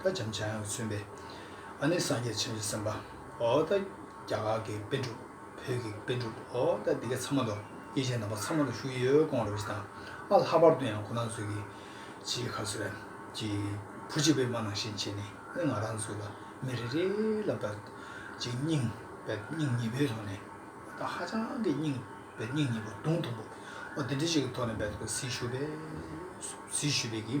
ད་བྱམས་བྱ་ཡང་མཚོན་པའི། ཨ་ནི་སངས་རྒྱས་བྱམས་བརྩེ་སེམས་དཔའ་ཨོ། ད་རྒྱ་གར་གྱི་དཔེ་འགྲུབ་བོད་ཀྱི་དཔེ་འགྲུབ་ཨོ། ད་འདི་ག་ཚང་མ་དང་དབྱེ་ཅན་དམ་པ་ཚང་མ་དང་ཞུ་ཡི་ཡོད་དགོངས་རབ་ཅི་དང་ཨ་ལྷག་པར་དུ་ཡང་ཁོ་རང་ཚོའི་གི་ཕྱིའི་ཁ་ཚོད་རན་གྱི་བུ་གཅིག་པའི་མ་ནང་བཞིན་བྱེད་ནི་ཨེ་ང་རང་ཚོ་ལ་མི་རེ་རེ་ལ་བལྟ་ཅིག་སྙིང་བལ་སྙིང་ཉི་བོའི་ཐོག་ནས་ད་ཧ་ཅང་གི་སྙིང་བལ་སྙིང་ཉི་བོ་དུང་དུང་པོ་ཨོ་དེ་འདྲི་ཞིག་གི་ཐོག་ནས་བལྟ་དགོས་ཟིག་ཞུ་བས་ཟིག་ཞུ་བས་གི།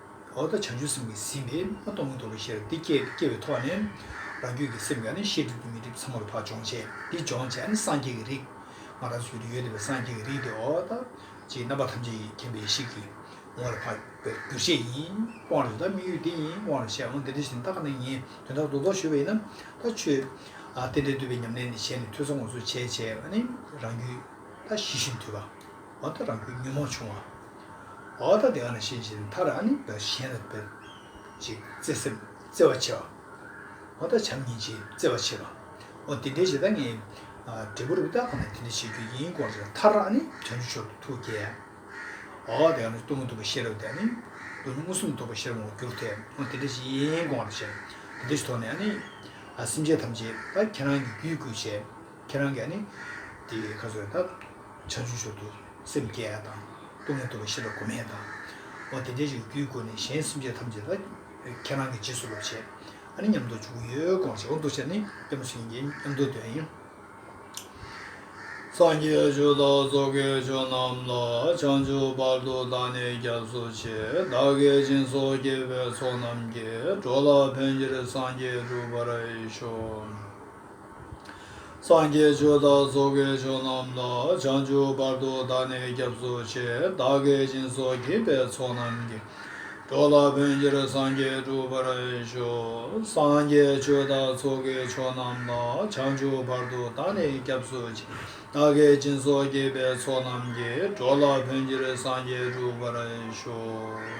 འོ་ད་བྱང་ཆུབ་སེམས་ཀྱི་ཟིལ་ནི་མ་གཏོང་གི་འདུག་པ་ཤེས་རབ་འདི་སྐྱེ་སྐྱེ་བའི་ཐོག་ནས། རང་རྒྱུད་ཀྱི་སེམས་ཀྱང་ནི་ཤེས་སྒྲིབ་ཀྱི་མི་སྒྲིབ་ཚ་མོ་རུ་བག་སྦྱོང་བྱས་འདི་སྦྱོང་བྱས་ནི་སངས་རྒྱས་ཀྱི་རིགས། ང་རང་ཚུལ་དུ་ཡོད་བསྡད་པའི་སངས་རྒྱས་ཀྱི་རིགས་དེ་འོ་ད། ཅེས་རྣམ་པ་ཐམས་ཅད་ཀྱི་མཁྱེན་པའི་ཤེས་ཀྱི་ངོ་ལ་འཕགས་པའི་འདུ་ཤེས་ཡིན། དབང་རེ་ད་དམིགས་ཡུལ་འདི་ཡིན་དབང་རེ་ཤེས་འོང་འདི་འདྲ་ཞིག་ནི་ད་ག་ནས་ངས་དོན་དག་རྡོག་རྡོག་ཞུ་བ་ཡིན་ན་ད་ཆོས། ཨ། དེ་འདྲའི་འདུལ་བའི་ཉམས་ལེན་འདི་བྱས་ནས་ཐོས་བསམ་ངོ་སོ་བྱས་བྱས་ནི་རང་རྒྱུད་ད་ཞི་ཞིང་དུལ་བ། འོ་ད་རང་ཁོའི་ཉོན་མོངས་ཆུང་བ། འོ་ད་དེ་ག་ནས་ཤེས་ཤེས་མཐར་ཨ་ནི་བདག་གཞན་ལ་འབད། ཅིག་བརྩེ་སེམས་བརྩེ་བ་ཆེ་བ། འོ་ད་བྱམས་སྙིང་རྗེ་བརྩེ་བ་ཆེ་བ། འོ་དེ་འདྲའི་ཞེ་སྡང་ངས། འབྲས་བུ་རུ་བདག་གང་ལ་དེ་འདྲ་བྱེད་རྒྱུ་ཡིན་སྐོར་བརྗོད་མཐར་ཨ་ནི་དོན་གྱི་མཆོག་ཏུ་ཐུགས་བསྐྱེད། འོ་དེ་ག་ནས་གཏུམ་མོ་གདུག་པ་ཤེས་རབ་དེ་ཨ་ནི། གདུག་མོ་མངོན་སུམ་དུ་རྟོགས་པ་ཤེས་རབ་ངོ་བསྒྱུར་ཐལ། འོ་དེ་འདྲ་ཞིག་ཡིན་སྐོར་བཤད། དེ་འདྲ་ཞིག་ཐོག་ནས་ཨ་ནི། སེམས་ཅན་ཐམས་ཅད་ད་ཁྱེད་རང་གི་རྒྱུད་བསྐུལ་བྱས། ཁྱེད་རང་གིས་ནི་དེ་ཁ་གསོས་ལྟར་ཆར་ཆུ་ཞོར་དུ་སེམས་བསྐྱེད་ཡ་དང་ལྟུང་མི་ལྟུང་བའི་ཤེས་པ་གོ་མི་ཡ་དང། འོ་དེ་འདྲའི་ཞིག་རྒྱུའི་སྒོ་ནས་གཞན་སེམས་ཅན་ཐམས་ཅད་ལ་ཁྱེད་རང་གིས་རྗེས་སུ་སློབ་བྱེད་ཨ་ནི་ཉམས་རྟོགས་བཅུག་གི་ཡོད་དགོངས་བྱེད་འོ་འདུ་བྱེད་ནི་ཉམས་སུ་ཡིན་གྱི་ཉམས་རྟོགས་དོན་ཡིན། སངས་རྒྱས་ཆོས་དང་སོ་གའི་ཆོས་རྣམས་ལ་བྱང་ཆུབ་བར་དུ་བདག་ནི་སྐྱབས་སུ་མཆི། བདག་གི་སྦྱིན་སོགས་སྐྱེས་པའི་ཚོགས་རྣམས་ཀྱིས་འགྲོ་ལ་ཕན་ཕྱིར་སངས་རྒྱས་འགྲུབ་པར་ཤོག། སངས་རྒྱས་ཆོས་བདག་སོགས་དགེ་སྦྱོང་རྣམས་ལ་བྱང་ཆུབ་བར་དུ་བདག་ནི་སྐྱབས་སུ་མཆི། བདག་གི་སྦྱིན་སོགས་བགྱིས་པའི་ཚོགས་རྣམས་ཀྱིས། གྲོགས་ལ་བོན་གྱིར་སངས་རྒྱས་འགྲུབ་པར་ཤོག། སངས་རྒྱས་ཆོས་བདག་སོགས་དགེ་སྦྱོང་རྣམས་ལ་བྱང་ཆུབ་བར་དུ་བདག་ནི་སྐྱབས་སུ་མཆི། བདག་གི་སྦྱིན་སོགས་བགྱིས་པའི་ཚོགས་རྣམས་ཀྱིས། གྲོགས་ལ་བོན་གྱིར་སངས་རྒྱས་འགྲུབ་པར་ཤོག།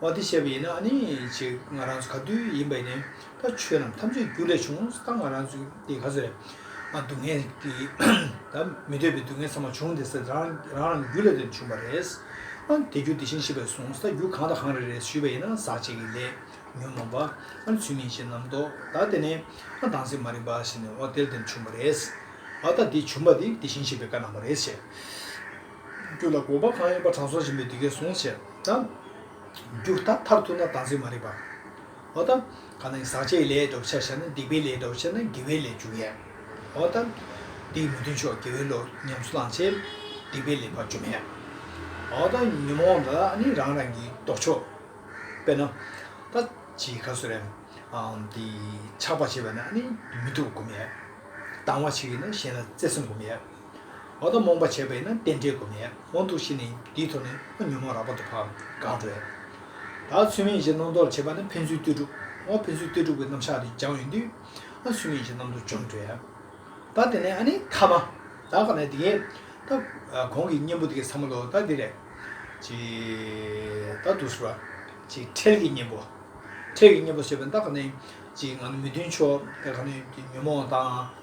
བ་དེ་བཤད་པ་ཡིན་ན་ཨ་ནི་ཅིག་ང་རང་ཚོ་ག་དུས་ཡིན་པ་ཡིན་ནའི་ད་ཆོས་རྣམས་ཐམས་ཅད་རྒྱུ་ལས་བྱུང་ད་ང་རང་ཚོ་འདི་ག་ཚོད་རེད་ཨ་སྡུག་བསྔལ་གྱིས་ད་མི་འདོད་པའི་སྡུག་བསྔལ་ཚང་མ་བྱུང་འདི་ཟེར་རང་རང་རང་རྒྱུ་ལས་དོན་བྱུང་བ་རེད་ཨ་དེ་རྒྱུ་དེ་བཞིན་ཤེས་པས་བཟུང་ད་རྒྱུ་གང་དང་གང་རེད་རེད་ཞུས་པ་ཡིན་ན་ཟག་བཅས་ཀྱི་ལས་ཉོན་མོངས་པ་ཨ་ནི་ཚུལ་མིན་ཞེས་རྣམ་རྟོག་ད་དེ་ནས་ཨ་དྭངས་སེམས་མ་རིག་པ་ཞེས་ནས་འོ་དེ་ལས་དོན་བྱུང་བ་རེད་ཨ་ད་དེ་བྱུང་བ་དེ་དེ་བཞིན་ཤེས་པའི་བཀའ་གནང་བ་རེད་ཞེས། རྒྱུ་ལ་དགོངས་པ་གང་ཡོད་པ་དྲང་སྲོང་སྦྱིན་པས་འདི་སྐད་གསུངས། བྱས་ཙང་རྒྱུ་ད་མཐར་ཐུག་ན་དམ་ཚིག་མ་རིག་པ། འོ་དམ། གང་ན་ཡང་ཟག་བཅས་ལས་འདོད་པ་ཆགས་བྱས་ན་སྡིག་པའི་ལས་འདོད་པ་ཆགས་ན་དགེ་བའི་ལས་འཇུག་ཡས། འོ་དམ། འདི་ཡི་མི་མཐུན་ཕྱོགས་དགེ་བའི་བློ་ཉམས་སུ་བླངས་བྱས། སྡིག་པའི་ལས་བར་འཇུག་མས། འོ་དམ། ཉོན་མོངས་ལ་ནི་རང་རང་གི་ལྡོག་ཕྱོགས། དཔེར་ན། ད་ཅི་ག་སུ་རེད། འདི། ཆགས་པར་བྱེད་པས་ན་ནི་མི་སྡུག་བསྒོམ་ཡས། སྡང་བར་བྱེད་ཀྱིས་ན་གཞན་ལ་བརྩེ་སེམས་བསྒོམ་ཡས། འོ་ན་རྨོངས་པ་བྱས་པས་ན་རྟེན་འབྲེལ་གོ་མེད་འོང་དུ་ཤི་ནས་འདིའི་ཐོག་ནས་ཨ་ཉོན་མོངས་རགས་པ་དུ་བར་གང་བྲོས། ད་ཚུལ་མིན་གཞི་སྣང་རྟོག་བྱེད་པ་ནི་ཕན་ཚུན་ལྟོས་གྲུབ་བོ་ཕན་ཚུན་ལྟོས་གྲུབ་ཀྱི་རྣམ་གཞག་དེ་སྦྱང་ཡོད་དུས་ཨ་ཚུལ་མིན་གཞི་སྣང་དུ་བྱུང་བྲོས། ད་དེ་ནས་ཨ་ནི་ཐ་མ། ད་ག་ནས་དེ། ད་གོང་གི་གཉེན་པོ་དེ་གའི་ཚ་མ་ལོ་ད་དེ་རེད། ཅེས། ད་དུ་སུ་ར། ཅེས་འཕྲལ་གྱི་གཉེན་པོ། འཕྲལ་གྱི་གཉེན་པོ་ཟེར་བས་ད་ག་ནས། ཅེས་ང་ནི་མི་མཐུན་ཕྱོགས་ད་ག་ནས་ཉོན་མོངས་དང།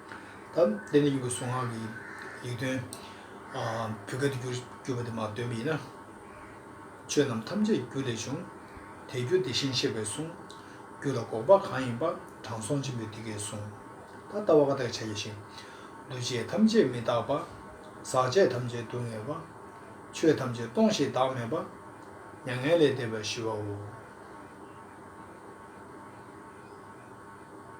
དང། དེ་ནས་གཡུ་གུ་གསུང་ངག་གི་ཡིག་དོན། བུ་ག་དུ་གྱུར་པ་དེ་མ་བཏོན་པ་ཡིན་ན། ཆོས་རྣམས་ཐམས་ཅད་རྒྱུ་ལས་བྱུང། དེ་རྒྱུ་དེ་བཞིན་གཤེགས་པས་གསུངས། རྒྱུ་ལ་འགོག་པ་གང་ཡིན་པ། དྲང་སྲོང་ཆེན་པོས་འདི་སྐད་གསུངས། ད་ལྟ་བ་ཀ་དག་བྱ་ཡི་ཞིང། འདུ་བྱེད་ཐམས་ཅད་མི་རྟག་པ། ཟག་བཅས་ཐམས་ཅད་སྡུག་བསྔལ་བ། ཆོས་ཐམས་ཅད་སྟོང་ཞིང་བདག་མེད་པ། མྱ་ངན་ལས་འདས་པ་ཞི་བའོ།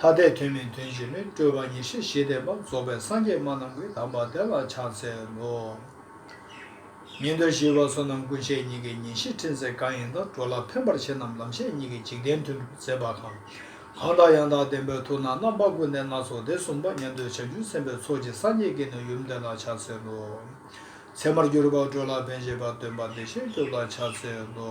ཐ་དད་དོན་མེད་དོན་གཅིག་ལས་སྤྲོས་པ་ཉེར་ཞི་བཞི་ལྡན་པ་རྫོགས་པའི་སངས་རྒྱས་སྨྲ་རྣམས་ཀྱི་དམ་པ་དེ་ལ་ཕྱག་འཚལ་ལོ། ཉིན་ཟླ་བཞི་བ་སོ་ནམ་ཀུན་བྱེད་གཉིས་ཀྱི་ཉིན་ཞིག་ཕྲིན་ཚེགས་གང་ཡིན་དང་འགྲོ་ལ་ཕན་པར་བྱེད་རྣམས་ལམ་ཤེས་གཉིས་ཀྱི་འཇིག་རྟེན་མཐུན་འགྲུབ་མཛད་པ་གང། གང་དག་ཡང་དག་བདེན་པའི་ཐུགས་སྣང་རྣམ་པ་ཀུན་ལྡན་སྣ་ཚོགས་སྡེ་གསུམ་པ་ཉན་ཐོས་བྱང་ཆུབ་སེམས་དཔའི་ཚོགས་ཀྱིས་སངས་རྒྱས་དགེ་འདུན་ཡུམ་དེ་ལ་ཕྱག་འཚལ་ལོ། ཚད་མར་གྱུར་པ་འགྲོ་ལ་ཕན་བྱེད་པ་སྟོན་པ་བདེ་གཤེགས་སྐྱོབ་ལ་ཕྱག་འཚལ་ལོ།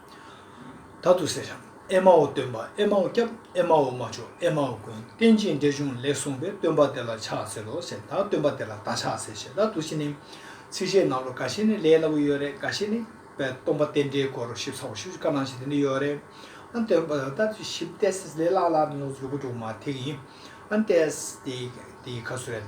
ད་དུ་སེར་རམ་ཨེ་མའོ་སྟོན་པ་ཨེ་མའོ་སྐྱབས་ཨེ་མའོ་མ་མཆོག་ཨེ་མའོ་ཀུན་བསྟན་ཅིང་འགྲེལ་ཆུང་ལེགས་གསུངས་པས་སྟོན་པ་དེ་ལ་ཕྱག་འཚལ་ལོ་ཞེས་དང་སྟོན་པ་དེ་ལ་ད་ཕྱག་འཚལ་ཞེས་དང་དུ་བཞི་ནི། ཚིགས་བཅད་རྣམས་རོ་ག་ཤེས་ནི་ལས་སླ་པོ་ཡོད་རེད་ག་ཤེས་ནི། པའི་སྟོང་པ་རྟེན་འབྲེལ་སྐོར་ཞིབ་ཚགས་པར་ཞུ་རྒྱུ་ག་ནང་བཞིན་དེ་འདི་ཡོད་རེད། ཨན་སྟོན་པ་ད་དུ་བཞི་བལྟས་སེ་ལས་སླ་སླ་ནོར་འཛོལ་དགུ་དྲུག་མ་ཐེག་ཡིན། ཨན་བལྟས་སེ་དེ་ཡི་ཁ་སུ་རེད།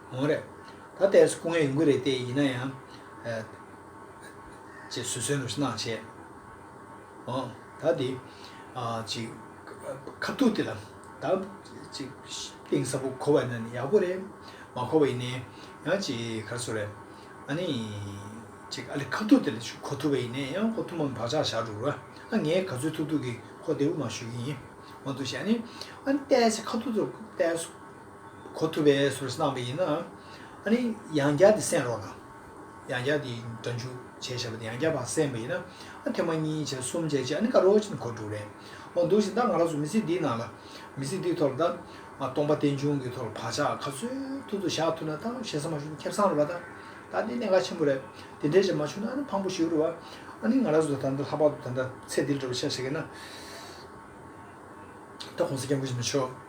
གང་རེད། ད་ལྟའི་སྐུ་ངལ་ཡོང་གི་རེད་ལྟས་ཡིན་ན་ཡང། ཅེས་བཟོད་གསོལ་ནུབ་གནང་བྱས། འོང། ད་འདི། ཅིག། ཁ་ཐུག་དེ་ལ། ད། ཅིག། གཏིང་ཟབ་པོ་གོ་བ་ཡིན་ན་ནི་ཡག་པོ་རེད། མ་གོ་བ་ཡིན་ནའི། ཡང་ཅིག་གར་སོང་རེད། ཨ་ནི། ཅིག་ཨ་ལས་ཁ་ཐུག་དེ་ལ་ཅིག་གོ་ཐུབ་པ་ཡིན་ནའི་ཡང་གོ་ཐུབ་མམ་བག་ཆགས་བཞག་འགྲོ། ཨ་ངས་ག་ཚོད་ཐུག་ཐུག་གིས་ཁོ་བདེ་བོ་མ་ཞུ་གི་ཡིན། འོང་དུ་བྱས་ཨ་ནི། ཨ་ནི་ལྟས་ཚེ་ཁ་ཐུག་ཚོར་ལྟས། གོ་ཐུབ་པའི་ཟུར་གསལ་བཏང་བ་ཡིན། ཨ་ནི་ཡང་བསྐྱར་དེ་གསན་རོགས་གནང། ཡང་བསྐྱར་དེ་འདྲ་འཇུག་བྱས་ཞེས་པ་དེ་ཡང་བསྐྱར་བར་གསན་པ་ཡིན། ཨ་ཐེངས་མ་གཉིས་བྱས་གསུམ་བྱས་རྗེས་ཨ་ནི་ཀ་རོ་ཅིན་གོ་དྲུག་རེད་འོང་འདུག་ཅིང་ད་ང་རང་ཚོ་མི་ཚེ་འདིའི་ནང་ལ། མི་ཚེ་འདིའི་ཐོག་ལ་ད། སྟོང་པ་རྟེན་འབྱུང་གི་ཐོག་ལ་བག་ཆགས་ག་ཚོད་ཐུབ་ཐུབ་བཞག་ཐུབ་ན་ད་བཞེད་ས་མ་བྱུང་ན་ཁྱབ་སངས་རོགས་པ་ད། ད་དེ་གནད་འགག་ཆེན་པོ་རེད། དེ་འདྲའི་བྱས་མ་བྱུང་ན་ཨ་ནི་ཕངས་པོ་ཞིག་རེད་བ། ཨ་ནི་ང་རང་ཚོ་ད་ལྟ་ལྷག་པར་དུ་ད་ལྟ་ཚེ་འདི་ལ་འགྲོ་བའི་ཆ་ཞིག་ཡིན་ན། ད་གོང་ས་མཁན་པོ་བྱས་མ་ཆོག།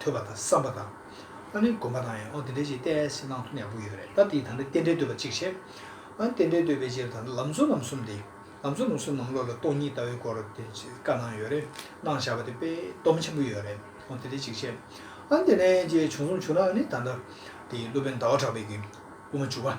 ཐོས་པ་དང་བསམ་པ་དང། ཨ་ནི་སྒོམ་པ་དང་ཡང་འོ་དེ་འདྲའི་ཆེད་གཏད་ཡ་སེ་གནང་ཐུབ་ན་ཡག་པོ་ཡོད་རེད་ད་དེའི་ད་ནི་རྟེན་འབྲེལ་འདོད་པ་གཅིག་བྱེད། ཨ་ནི་རྟེན་འབྲེལ་འདོད་པའི་ཕྱིར་ད་ནི་ལམ་གཙོ་ལམ་གསུམ་དེ། ལམ་གཙོ་ལམ་གསུམ་ནང་བློ་ལ་སྟོང་ཉིད་ལྟ་བའི་སྐོར་དེ་བཀའ་གནང་ཡོད་རེད་གནང་བཞག་པ་དེ་དཔེ་སྡོམ་ཆེན་པོ་ཡོད་རེད་འོ་དེ་འདྲའི་གཅིག་བྱེད། ཨ་ནི་དེ་ནས་ཅེས་བྱུང་གསུམ་བྱུང་ན་ཨ་ནི་ད་ལྟ་དེ་སློབ་དཔོན་ཟླ་བ་གྲགས་པའི་གིས་དབུ་མ་བཅུ་པ།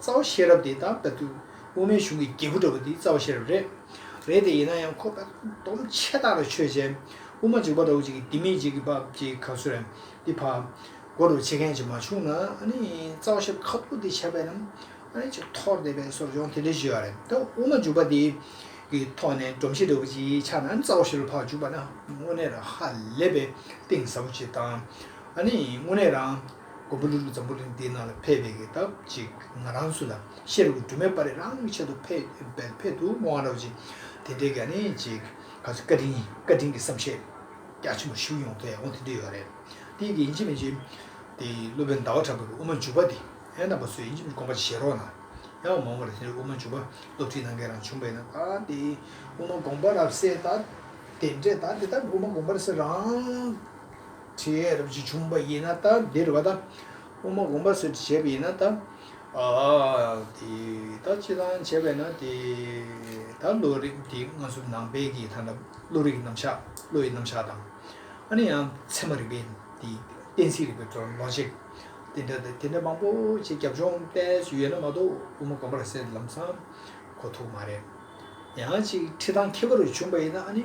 རྩ་བ་ཤེས་རབ་དེ་ལྟར་བལྟ་དུས་དབུ་མའི་གཞུང་གི་རྒྱལ་བུ་འདྲ་བོ་འདི་རྩ་བ་ཤེས་རབ་རེད། རེད་དེ་ཡིན་ན་ཡང་ཁོ་པས་སྡོམ་ཆད་བཏགས་ལ་ཆོས་བྱས། དབུ་མ་འཇིག་པ་འདྲ་བོ་ཅིག་གིས་འདི་མི་འཇིག་གི་འབབ་ཅིག་ག་ཚོད་རེད་འདི་ཕ། མགོ་འདྲ་བོ་ཆེ་མཁན་ཅིག་མ་བྱུང་ན་ཨ་ནི་རྩ་བ་ཤེས་རབ་ཁ་ཐུག་འདི་བྱས་པས་ན་ཨ་ནི་ཅིག་ཐོར་འདེབས་པའི་སོར་སྦྱོང་དེ་འདྲ་ཞིག་ཡོད་རེད་ད་དབུ་མ་འཇུག་པ་འདི་གི་ཐོག་ནས་སྒྲོམ་གཞི་འདྲ་བོ་ཅིག་ཆགས་ན་ཨ་ནི་རྩ་བ་ཤེས་རབ་ཕག་འཇུག་པ་ན་དངོས་གནས་ར་ཧ་ལས་པའི་གཏིང་ཟབ་པོ་ཅིག་དང་ཨ་ནི་དངོས་གནས་རང་མགོན་པོ་ཀླུ་སྒྲུབ་འཛམ་བུ་གླིང་འདི་ན་ལ་ཕེབས་པའི་གི་དབ་ཅིག་ང་རང་སུ་ལ་ཤེས་རུ་སྒྲུབ་མེད་པ་རེད་རང་གི་ཆེད་དུ་ཕེབས་འདུག་མོ་ཨ་རོག་ཅིག་དེ་འདྲའི་ག་ནི་ཅིག་ག་ཚོད་བཀའ་དྲིན་བཀའ་དྲིན་གི་བསམ་ཤེས་རྒྱ་ཆེན་པོ་ཞུ་ཡོང་ཐལ་འོང་དེ་འདྲ་ཡོད་རེད་དེ་གི་ཡིན་གཅིག་མིན་གཅིག་དེ་སློབ་དཔོན་ཟླ་བ་གྲགས་པའི་གི་དབུ་མ་འཇུག་པ་དེ་ཨེ་ན་པ་སུ་ཡིན་གཅིག་མིན་གོམ་པ་བྱེད་རོགས་གནང་ཡང་མང་བོ་རེད་དེ་འདྲའི་དབུ་མ་འཇུག་པ་སློབ་ཁྲིད་གནང་མཁན་རང་བྱུང་བས་ན་ད་དེ་དབུ་མ་དགོངས་པ་རབ་གསལ་ད་དེ་འདྲས་ད་དེ་ལྟར་དབུ་མ་དགོངས་པ་རབ་གསལ་རང་ཁྲི་ཡའི་རབ་བྱེད་ཆུང་བ་ཡིན་ན་དང་འདིར་བ་དང། དབུ་མ་དགོངས་པ་སོད་དུ་བྱས་པ་ཡིན་ན་དང། དེ་དག་སྤྱི་དང་བྱས་པས་ན་དེ་དག་བློ་རིག་དེ་སྔ་གཟུགས་ནང་དཔལ་གྱི་མཐའ་ན་བློ་རིག་རྣམ་གཞག་བློ་ཡི་རྣམ་གཞག་དང། ཨ་ནི་ཡང་ཚད་མ་རིག་པའི་དེ་གཏན་ཚིགས་རིག་པའི Logic དེ་འདྲ་དང་དེ་འདྲ་མང་པོ་ཆེ་རྒྱབ་ལྗོངས་གཏན་སུ་ཡོད་ན་མ་གཏོགས་དབུ་མ་དགོངས་པར་གསལ་ལམ་ཚང་གོ་ཐུག་མ་རེད། ཡང་ཅིག་ཁྲི་དང་ཁྱད་པར་བ་ཆུང་བ་ཡིན་ན་ཨ་ནི།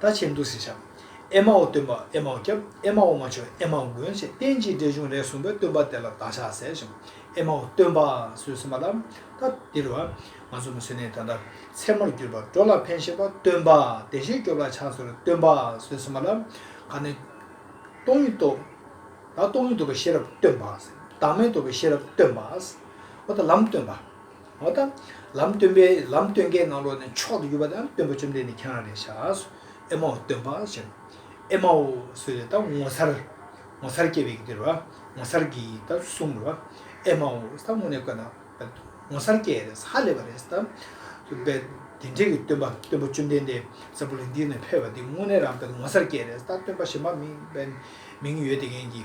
ད་ཆའི་འདུག་སེ་ཆགས། ཨེ་མའོ་སྟོན་པ་ཨེ་མའོ་སྐྱབས་ཨེ་མའོ་མ་མཆོག་ཨེ་མའོ་མགོན་ཞེས་བསྟན་ཅིང་འགྲེལ་ཆུང་རས་གསུངས་པའི་སྟོན་པ་དེ་ལ་བདག་ཕྱག་འཚལ་ཞིང་ཨེ་མའོ་སྟོན་པ་གསོལ་ཟིན་པ་ལ་ད་འདིར་བ་ང་ཚོ་མི་བསོད་ནས་ད་ལྟ་མཚན་མོར་གྱུར་པ་འགྲོ་ལ་ཕན་ཞེས་པ་སྟོན་པ་བདེ་གཤེགས་སྐྱོབ་ལ་ཕྱག་འཚལ་ལོ་སྟོན་པ་གསོལ་ཟིན་པ་ལ་ག་ནི། སྟོང་ཉིད་རྟོགས། ད་སྟོང་ཉིད་རྟོགས་པའི་ཤེས་རབ་སྟོན་པ། བདག་མེད་རྟོགས་པའི་ཤེས་རབ་སྟོན་པ། འོ་ད་ལམ་སྟོན་པ། འོ་ད། ལམ་སྟོན་པས་ལམ་སྟོན་མཁན་ནང་ལོགས་ནས་མཆོག་ཏུ་གྱུར་པ་དང་སྟོན་པ་བཅོམ་ལྡན་འདས་ཁྱེད་རང་རེད་ཤག། ཨེ་མའོ་སྟོན་པ་ཞེས། ཨེ་མའོ་སུ་རེད་ད་ངོ་མཚར། ངོ་མཚར་སྐྱེས་པའི་གི་དེ་རེད་བ། ངོ་མཚར་གི་ད་གསུམ་རེད་བ། ཨེ་མའོ་ད་དངོས་གནས་དཀོན་ན། ངོ་མཚར་སྐྱེས་རེད་ཧ་ལས་པ་རེད་ད། དཔེ། དེ་འདྲས་ཀྱི་སྟོན་པ་སྟོན་པ་བཅོམ་ལྡན་འདས་ས་བུ་ལ་འདི་ནས་འཕོས་པ་འདི་དངོས་གནས་རང་དཔེ་ངོ་མཚར་སྐྱེས་རེད་ད་སྟོན་པ་གཞན་པ་མིང། མིང་ཡོད་དེ་མཁན་གྱི།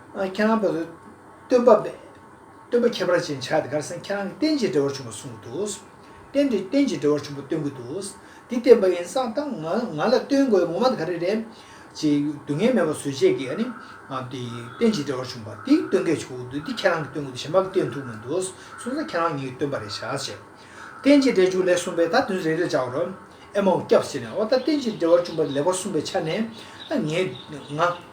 ཁྱེད་རང་བོད་སྟོན་པ་སྟོན་པ་ཁྱད་པར་ཅན་ཕྱག་དེ་གར་སེང་ཁྱེད་རང་གི་བསྟན་བྱའི་འགྲེལ་བར་བྱུང་བ་གསུང་གི་འདུག། བསྟན་འགྲེལ་བསྟན་བྱའི་འགྲེལ་བར་བྱུང་བ་སྟོན་གི་འདུག་འདི་བསྟན་པ་ཡིན་སང་ད་ང་ང་ལ་སྟོན་དགོས་ངོ་མ་ག་རེ་རེད། ཅེས་སྡུག་བསྔལ་མེད་པར་བཟོད་ཅེས་ཀྱི་ནི། དེ་བསྟན་བྱའི་འགྲེལ་བར་བྱུང་བ་འདི་སྟོན་གི་བྱུང་གི་འདུག་འདི་ཁྱེད་རང་གི་སྟོན་གི་འདུག་གཞན་པ་གི་སྟོན་ཐུབ་མི་འདུག་གསུང་ས་ཁྱེད་རང་ཉིད་ཀྱི་སྟོན་པ་རེད་བཞག་ཅེས། བསྟན་བྱའི་འགྲེལ་བྱུང་ལེགས་གསུངས་པས་ད་དོན་རེ་རེར་བྱ་བར། ཨེ་མའོ་སྐྱབས་ཟེར་ནས་ཨོ་ད་བསྟན་བྱའི་འགྲེལ་བར་བྱུང་བ་ལེགས་པར་གསུངས་པའི་ཆ་ནས། ང།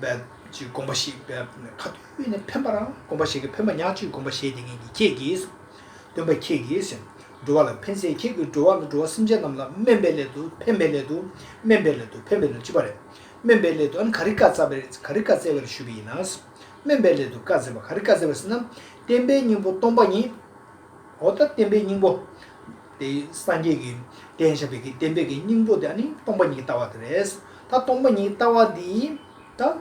འབད། ཅེས་དགོངས་པ་ཞིག་འབེབས། ཁ་བསྟོད་ནི་འཕེན་པར་དགོངས་པ་ཞིག་གིས་འཕེན་པ་ཉག་གཅིག་དགོངས་པ་བཞེས་ཏེ་ངེད་ཀྱིས་ཁྱེད་ཀྱིས། སྟོན་པ་ཁྱེད་ཀྱིས། འགྲོ་བ་ལ་འཕེན་སའི་ཁྱེད་ཀྱིས་འགྲོ་བ་ལ་འགྲོ་བ་སེམས་ཅན་རྣམས་ལ་སྨན་པའི་སླད་དུ་འཕེན་པའི་སླད་དུ་སྨན་པའི་སླད་དུ་འཕེན་པའི་སླད་དུ་ཅི་པ་རེད། སྨན་པའི་སླད་དུ་ཨན་ག་རི་བཀའ་སྩལ་བས་ག་རི་བཀའ་སྩལ་བས་ཞུས་པ་ཡིན་ན། སྨན་པའི་སླད་དུ་བཀའ་སྩལ་བ་ག་རི་བཀའ་སྩལ་བས་ཟེར་ན། བསྟན་པའི་སྙིང་པོ་སྟོང་པ་ཉིད། འོ་ད་བསྟན་པའི་སྙིང་པོ། དེ་སངས་རྒྱས་ཀྱི་བསྟན་བྱ་བའི་གི་བསྟན་པའི་གི་སྙིང་པོ་དེ་ནི་སྟོང་པ་ཉིད་ལྟ་བ་དེ་རེད། ད་སྟོང་པ་ཉིད་ལྟ་བ་འདི་ད།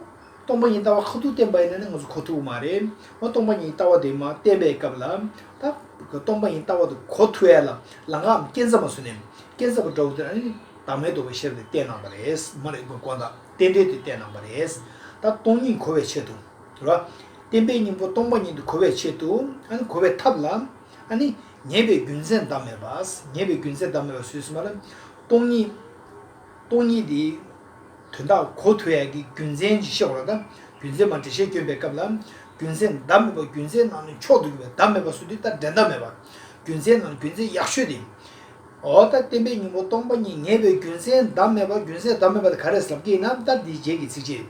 སྟོང་པ་ཉིད་ལྟ་བ་ཁ་ཐུག་བསྟན་པ་ཡིན་ན་ནི་ང་ཚོ་གོ་ཐུག་མ་རེད། འོ་སྟོང་པ་ཉིད་ལྟ་བ་དེ་མ་བསྟན་པའི་སྐབས་ལ། ད། སྟོང་པ་ཉིད་ལྟ་བ་དེ་གོ་ཐུག་ཡ་ལ་ལ་ང་འམ་རྐྱེན་རྩ་མ་ཟོས་ནས་རྐྱེན་རྩ་བ་འདྲ་བོ་དེ་ནི་བདག་མེད་དོ་བའི་ཤེས་པ་དེ་བསྟན་གནང་བ་རེད། མ་རེད་དགོས་དགོངས་དག་རྟེན་འབྲེལ་དེ་བསྟན་གནང་བ་རེད། ད་སྟོང་ཉིད་གོ་བའི་ཆེད་དུ། དུ་ལ། བརྟན་པའི་སྙིང་པོ་སྟོང་པ་ཉིད་དུ་གོ་བའི་ཆེད་དུ། གོ་བའི་ཐབས་ལ། ཉེས་པའི་རྒྱུ་མཚན་བདག་མེད་པ། ཉེས་པའི་རྒྱུ་མཚན་བདག་མེད་པ་ཟོས་ཟིན་པ་ལ། སྟོང་ཉིད་དེ། དོན་དག་གོ་ཐོས་ཡས་ཀྱི་རྒྱུ་མཚན་གྱིས་ཤེས་བ་ལ། རྒྱུ་མཚན་མ་འདྲེས་ཤེས་སྐྱོན་པའི་སྐབས་ལ། རྒྱུ་མཚན་བདག་མེད་པ་རྒྱུ་མཚན་ནང་ནས་མཆོག་ཏུ་གྱུར་པའི་བདག་མེད་པ་སུ་དེ་ལྟར་འདྲེན་བདག་མེད་པ། རྒྱུ་མཚན་ནང་རྒྱུ་མཚན་ཡག་ཤོས་དེ། འོ་ད་བསྟན་པའི་སྙིང་པོ་སྟོང་པ་ཉིད་ངེས་པའི་རྒྱུ་མཚན་བདག་མེད་པ་རྒྱུ་མཚན་བདག་མེད་པ་དེ་ག་རེ་ཟབ་ཀྱེ་ན་ད་འདིའི་རྗེས་ཀྱི་ཚིག་ཕྱིར།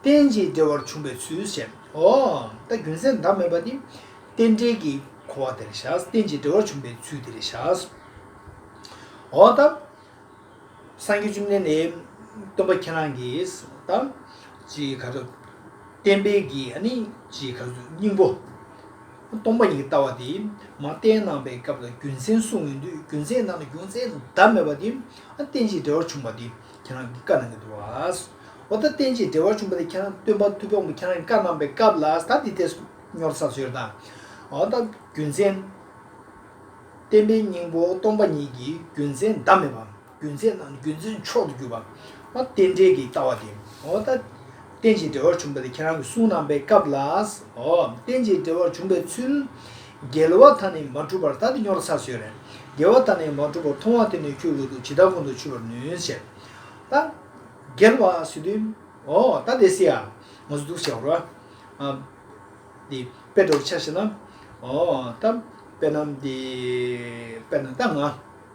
རྟེན་ཅིང་འབྲེལ་བར་འབྱུང་བའི་ཚུལ་བཤད། འོ་ད་རྒྱུ་མཚན་བདག་མེད་པ་ནི། རྟེན་འབྲེལ་གྱི་གོ་བ་དེར་བཞག་རྟེན་ཅིང་འབྲེལ་བར་འབྱུང་བའི་ཚུལ་དེར་བཞག། འོ་ད། སངས་རྒྱས་བཅོམ་ལྡན་འདས། སྟོན་པ་ཁྱེད་རང་གིས་ད། ཅིག་ག་རེ། བསྟན་པའི་གྱི་ནི་ཅིག་ག་རེ་སྙིང་པོ། སྟོང་པ་ཉིད་ལྟ་བ་དེ་མ་བསྟན་སྣང་བའི་སྐབས་ལ་རྒྱུ་མཚན་གསུངས་ཡོང་དུས་རྒྱུ་མཚན་ནང་ན་རྒྱུ་མཚན་བདག་མེད་པ་དེ་རྟེན་ཅིང་འབྲེལ་བར་བྱུང་བ་དེ་ཁྱེད་རང་གི་བཀའ་གནང་གི་འདུག་བ། འོ་ད་རྟེན་ཅིང་འབྲེལ་བར་བྱུང་བ་དེ་ཁྱེད་རང་སྟོན་པ་ཐུབ་བམ་ཁྱེད་རང་གི་བཀའ་གནང་བའི་སྐབས་ལ་ད་འདི་ལྟའི་སྨྱོར་ཚ་བཟོས་ད། འོ་ད་རྒྱུ་མཚན། བསྟན་པའི་སྙིང་པོ་སྟོང་པ་ཉིད་ཀྱི་རྒྱུ་མཚན་བདག་མེད་པ། རྒྱུན་ཚད་དང་རྒྱུན་ཚོད་མཆོག་ཏུ་གྱུར་པ། ཨོ་རྟེན་འབྲེལ་གྱི་ལྟ་བ་སྟེ། ཨོ་རྟ། རྟེན་ཅིང་འབྲེལ་བར་འབྱུང་བ་དེ་ཁྱེད་རང་གི་གསུང་གནང་པའི་སྐབས་ལ། ཨོ། རྟེན་ཅིང་འབྲེལ་བར་འབྱུང་བའི་ཚུལ། རྒྱལ་བ་དག་ནི་མ་གྲུབ་པར་ད་དེ་སྙོར་ཚར་ཟོས་རེད། རྒྱལ་བ་དག་ནི་མ་གྲུབ་པར་མཐོང་བ་དེ་ནི་ཁྱོད་ལུས་དུག་ཇི་ལྟར་ཁོང་དུ་ཆུད་པར་ནུས་ཟེར། ད། རྒྱལ་བ་སི་ཏུ། ཨོ། ད་དེ་སི་ཡ། ང་ཚོ་འདུག་བྱའོ། ཨ། འདི། དཔེ་འདྲ་བོ་ཆ་ཤེས་ན། ཨོ། ད། དཔེར་ན། འདི། དཔེར་ན་ད་ང།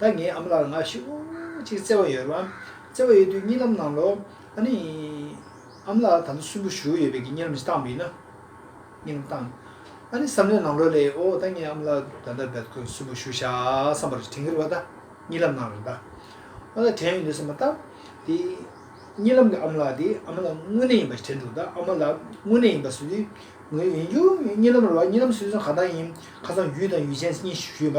ད་ངའི་ཨ་མ་ལགས་ལ་ངག་ཤུགས་གཅིག་བརྩེ་བ་ཡོད་རབས་བརྩེ་བ་ཡོད་དུས་གཉིད་ལམ་གནང་ལོ། ཨ་ནི། ཨ་མ་ལགས་དམ་སུན་པོ་ཞུ་ཡོད་པས་ཀྱི་གཉིད་ལམ་ཞིག་བཏང་དགོས་ན། གཉིད་ལམ་བཏང། ཨ་ནི་བསམ་ལས་གནང་ལོ་ལེ་ཨོ་ད་ངའི་ཨ་མ་ལགས་ད་ལྟ་བལ་ཁོད་སུན་པོ་ཞུ་བཞག་བསམ་པར་དྲིན་གྱི་རེ་བ་ད་གཉིད་ལམ་གནང་རོགས་ད། ཨོ་ད་དྲན་ཡོད་འདུག་བསམ་པ་ད། དེ། གཉིད་ལམ་གྱི་ཨ་མ་ལགས་དེ་ཨ་མ་ལགས་དངོས་གནས་ཡིན་པ་ཞིག་དྲན་འདུག་ད་ཨ་མ་ལགས་དངོས་གནས་ཡིན་པ་བཟོས་དུས། ངོ་ཡོད་ཡིན་རྒྱུ། གཉིད་ལམ་རེ་བ་གཉིད་ལམ་བཟོས་ཚུན་གང་ལྟར་ཡིན། ཁ་སང་ཡུལ་དང་ཡུལ་ཅན་གཉིས་ཞུས་པ།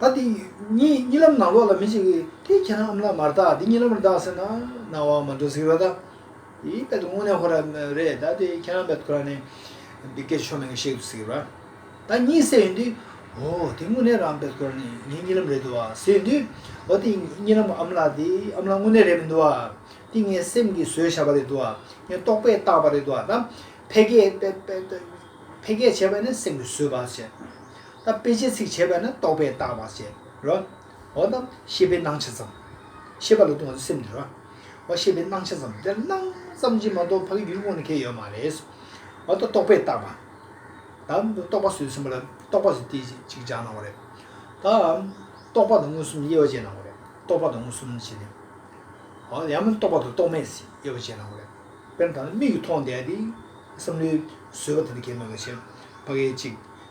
ད་དེ་གཉིས་ལམ་ནང་ལོགས་ལ་མི་ཞིག་གིས་དེ་ཁྱེད་རང་ཨམ་ལག་མར་བཏགས་འདི་གཉིས་ལམ་རེ་བཏགས་ཟེར་ན་ནང་བ་མ་འགྲོ་ཟིག་ར་ད་དེའི་དཔེ་དེ་དངོས་གནས་ཧོར་ར་རེད་ད་དེ་ཁྱེད་རང་བེད་ཁུ་ར་ནས་འདི་སྐད་ཆོ་མེད་གི་བཤད་འདུག་ཟིག་ར་ད་གཉིས་བསད་ཡོད་དུས་ཨོ་དེ་དངོས་གནས་རང་བེད་ཁུ་ར་ནས་ངའི་གཉིས་ལམ་རེད་འདུག་བ་ཟེར་ཡོད་དུས་ཨོ་དེ་གཉིས་ལམ་གི་ཨམ་ལག་དེ་ཨམ་ལག་དངོས་གནས་རེད་མི་འདུག་བ་དེ་ངའི་སེམས་ཀྱིས་བཟོས་བཞག་པ་རེད་འདུག་བ་ངས་རྟོག་པས་བཏགས་པ་རེད་འདུག་བ་ད་ཕལ་སྐད་བྱས་པ་ནི་སེམས་ཀྱིས་བཟོས་པ་བྱས་ད་དཔེ་ཅན་ཚིག་བྱས་པས་ན་རྟོག་པས་བཏགས་པར་བྱས་རོ། འོ་ན་ཤེས་པའི་སྣང་ཆ་ཙམ། ཤེས་པ་ལ་ལྟུང་བ་ནི་སེམས་འདི་རོ། འོ་ཤེས་པའི་སྣང་ཆ་ཙམ་དེར་སྣང་ཙམ་གྱིས་མ་གཏོགས་ཕ་གི་ཡུལ་དངོས་ནི་ཁེལ་ཡོད་མ་རེད། འོ་ད་རྟོག་པས་བཏགས་པ། ད་རྟོག་པ་སོས་ཟིན་པ་ལ་རྟོག་པ་ཟེར་ཏེ་ཅིག་སྦྱར་གནང་བ་རེད། ད་རྟོག་པ་དང་མངོན་སུམ་དབྱེ་བ་འབྱེད་གནང་བ་རེད། རྟོག་པ་དང་མངོན་སུམ་ཅི་ནི། འོ་ཡང་མིན་རྟོག་པ་དང་རྟོག་མེད་ཟེར་དབྱེ་བ་འབྱེད་གནང་བ་རེད། དཔེར་ན་ད་ནི་མིག་གིས་མཐོང་བསྡད་དེ། བསམ་བློའི་བཟོད་པ་དེ་ནི་ཁེལ་མེད་པ་བཞིན་ཕ་གིས་ཅིག།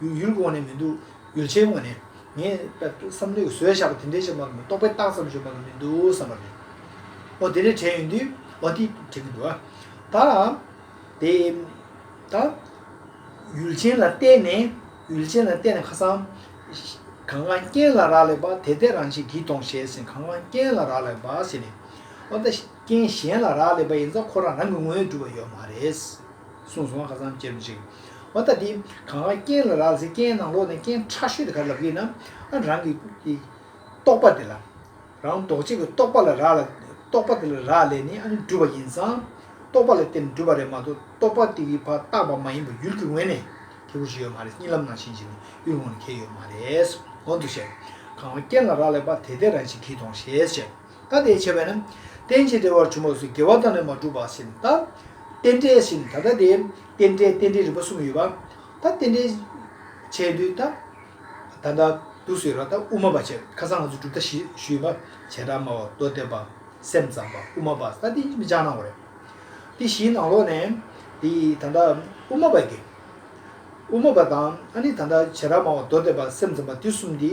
ཡུལ་གྱི་དབང་ནས་མི་འདུག་ཡོ་བྱད་དབང་ནས། ངས་བསམ་བློས་བཟོས་བཞག་པ་དེ་འདྲའི་ཆེ་མ་ལོ་རྟོག་པའི་རྟགས་ཙམ་བྱུང་བ་ལ་མི་འདུག་བསམ་པ་རེད། འོ་དེ་འདྲའི་དྲན་ཡོད་དུས་འོ་དེ་དྲན་གྱི་འདུག་ད། དེ། ད། ཡུལ་ཅན་ལ་བལྟས་ནས། ཡུལ་ཅན་ལ་བལྟས་ནས་ཁ་སང། གང་གང་རྐྱེན་ལ་རག་ལས་པ་དེ་ལྟས་རང་བཞིན་གྱིས་སྟོང་ཞེས་ཟེར་གང་གང་རྐྱེན་ལ་རག་ལས་པ་ཟེར་ནས། འོ་ད་རྐྱེན་གཞན་ལ་རག་ལས་པ་ཡིན་ཙང་ཁོ་རང་རང་གི་དངོས་གྲུབ་པ་ཡོད་མ་རེད། གསུངས་སོང་བ་ག་ཙམ་ཅེར་འཇིགས། བ་ད་འདི་གང་ག་རྐྱེན་ལ་རག་ཟེར་རྐྱེན་ནང་ལོག་ནས་རྐྱེན་ཕྲ་ཤོས་དེ་ག་ལབ་གི་ན་ཨ་རང་གི་གི། རྟོག་པ་དེ་ལ། རང་ལྡོག་གཅིག་གི་རྟོག་པ་ལ་རག་ལ། རྟོག་པ་དེ་ལ་རག་ལས་ནི་ཨ་ནི་སྒྲུབ་པ་ཡིན་ཙང། རྟོག་པ་ལ་བརྟེན་ནས་སྒྲུབ་པ་རེད་མ་གཏོགས་རྟོག་པ་དེ་གི་བ་རྟག་པ་མ་ཡིན་པ་ཡུལ་གི་ངོས་ནས་ཁེལ་པོ་ཞིག་ཡོད་མ་རེད་རྙིང་ལམ་ནང་ཕྱིན་ཕྱིན་ནས་ཡུལ་ངོས་ནས་ཁེལ་ཡོད་མ་རེད། གོང་དུ་བཤད། གང་ག་རྐྱེན་ལ་རག་ལས་པ་དེ་དེ་རང་བཞིན་གིས་སྟོང་ཞེས་བཤད། ཀ་དེའི་ཕྱེ་བས་ན། རྟེན་བྱེད་འབྲེལ་བར་བྱུང་བ་སུ་དགེ་བ་དང་ལས་མ་གྲུབ་པ་བཞིན་ལྟ། རྟེན་འབྲེལ་བཞིན་ད་ལྟ་དེ། རྟེན་འབྲེལ་རྟེན་འབྲེལ་རིམ་པ་གསུམ་ཡོད་པ། ད་རྟེན་འབྲེལ། བྱས་དུས་ད། ད་ལྟ། དུས་སུ་ཡོད་ལ་ད་དབུ་མ་པ་བྱས། ཁ་སང་ང་ཚོས་གྲུབ་མཐའ་བཞི་ཞུས་ཡོད་པ། བྱེ་བྲག་སྨྲ་བ་རྡོ་བརྟན་པ། སེམས་ཙམ་པ་དབུ་མ་པ་ད་ཏིང་ཅི་མི་ཅང་སྣང་བ་རེད། དེ་བཞིའི་ནང་ལོགས་ནས། དེ་ད་ལྟ། དབུ་མ་པ་དགེ། དབུ་མ་པ་དང་ཨ་ནི་ད་ལྟ་བྱེ་བྲག་སྨྲ་བ་རྡོ་བརྟན་པ་སེམས་ཙམ་པ་དེ་གསུམ་དེ།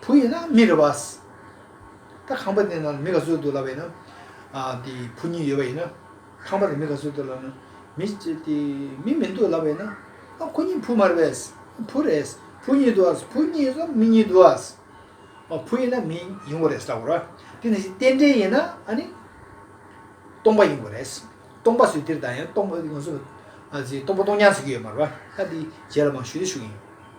བུ་ཡིན་ན་མི་རེ་བ། ད་ཁང་པ་ནས་ནང་མི་ག་ཚོད་འདུག་ལབ་པ་ཡིན་ན། དེ་བུ་གཉིས་ཡོད་པ་ཡིན་ན། ཁང་པ་ནས་མི་ག་ཚོད་འདུག་ལབ་ན། མི་མི་མི་འདུག་ལབ་པ་ཡིན་ན། ཨ་ཁོ་གཉིས་བུ་མ་རེ་བ། བུ་རེ། བུ་གཉིས་འདུག་ཨ། བུ་གཉིས་སམ་མི་གཉིས་འདུག་ཨ། བུ་ཡིན་ན་མི་ཡིན་དགོས་རེད་ད་གོ་ར། དེ་ནས་བཞིན་རྟེན་འབྲེལ་ཡིན་ན་ཨ་ནི། སྟོང་པ་ཡིན་དགོས་རེད། སྟོང་པ་སུས་སྟེར་ད་ཡིན་ན་སྟོང་པ་སྟོང་ཉར་ཟེར་གྱི་ཡོད་མ་རེད་པ། ཨ་དེ་རྗེས་ལ་མ་ཞུས་ན་ཞུ་གི་ཡིན།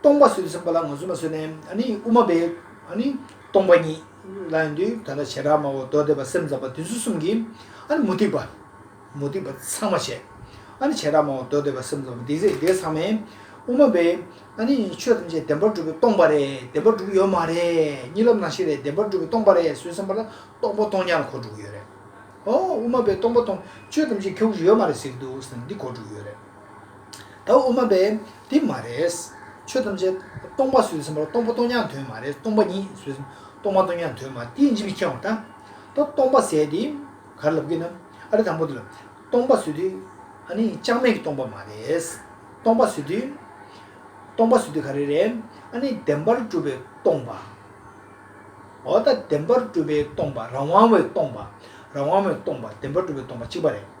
སྟོང་པ་སུ་ཟིན་པ་ལ་ངོ་སུ་མ་སུ་ནས་དབུ་མ་པའི་སྟོང་པ་ཉིད་ལ་ཡོང་དུས་ད་ལྟ་བྱེ་བྲག་སྨྲ་བ་མདོ་སྡེ་པ་སེམས་ཙམ་པ་བདུན་ཟུར་གསུམ་གྱིས་མུ་སྟེགས་པ་མུ་སྟེགས་པ་ཚང་མ་བྱས། བྱེ་བྲག་སྨྲ་བ་མདོ་སྡེ་པ་སེམས་ཙམ་པ་འདི་ཟེར་དེ་ཚང་མས་དབུ་མ་པའི་ཆོས་ཐམས་ཅད་བདེན་པར་གྲུབ་པའི་སྟོང་པ་རེད་བདེན་པར་གྲུབ་ཡོད་མ་རེད་གཉིད་ལམ་ནང་ཤི་རེད་བདེན་པར་གྲུབ་པའི་སྟོང་པ་རེད་སུ་ཟིན་པ་ལ་སྟོང་པ་སྟོང་ཉར་གོ་དྲུག་ཡོད་རེད། ཨོ་དབུ་མ་པའི་སྟོང་པ་སྟོང་ཆོས་ཐམས་ཅད་ཁྱོད་ཀྱི་ཡོད་མ་རེད་ཟེར་གྱི་འདུག་ཟེར་ནས་འདི་གོ་དྲུག་ཡོད་རེད། ད་དབུ་མ་པས་དེ་མ་རེད། ཆོས་ཐམས་ཅད་སྟོང་པ་ཟོས་ཟིན་པར་སྟོང་པ་སྟོང་ཉག་དོན་མ་རེད་སྟོང་པ་ཉིད་ཟོས་ཟིན་སྟོང་མ་སྟོང་ཉག་དོན་མ་རེད་དེ་ཇི་ལ་མཁྱེན་བ་ད། ད་སྟོང་པ་ཟས་དེ་གར་ལབ་གི་ན་ཨ་རི་དང་པོ་དེ་ལ་སྟོང་པ་ཟོས་དུས་ཨ་ནི་ཅང་མེད་ཀྱི་སྟོང་པ་མ་རེད། སྟོང་པ་ཟོས་དུས་སྟོང་པ་ཟོས་དུས་ག་རེ་རེད་ཨ་ནི་བདེན་པར་གྲུབ་པའི་སྟོང་པ། འོ་ད་བདེན་པར་གྲུབ་པའི་སྟོང་པ་རང་དབང་བའི་སྟོང་པ་རང་དབང་བའི་སྟོང་པ་བདེན་པར་གྲུབ་པའི་སྟོང་པ་གཅིག་པ་རེད།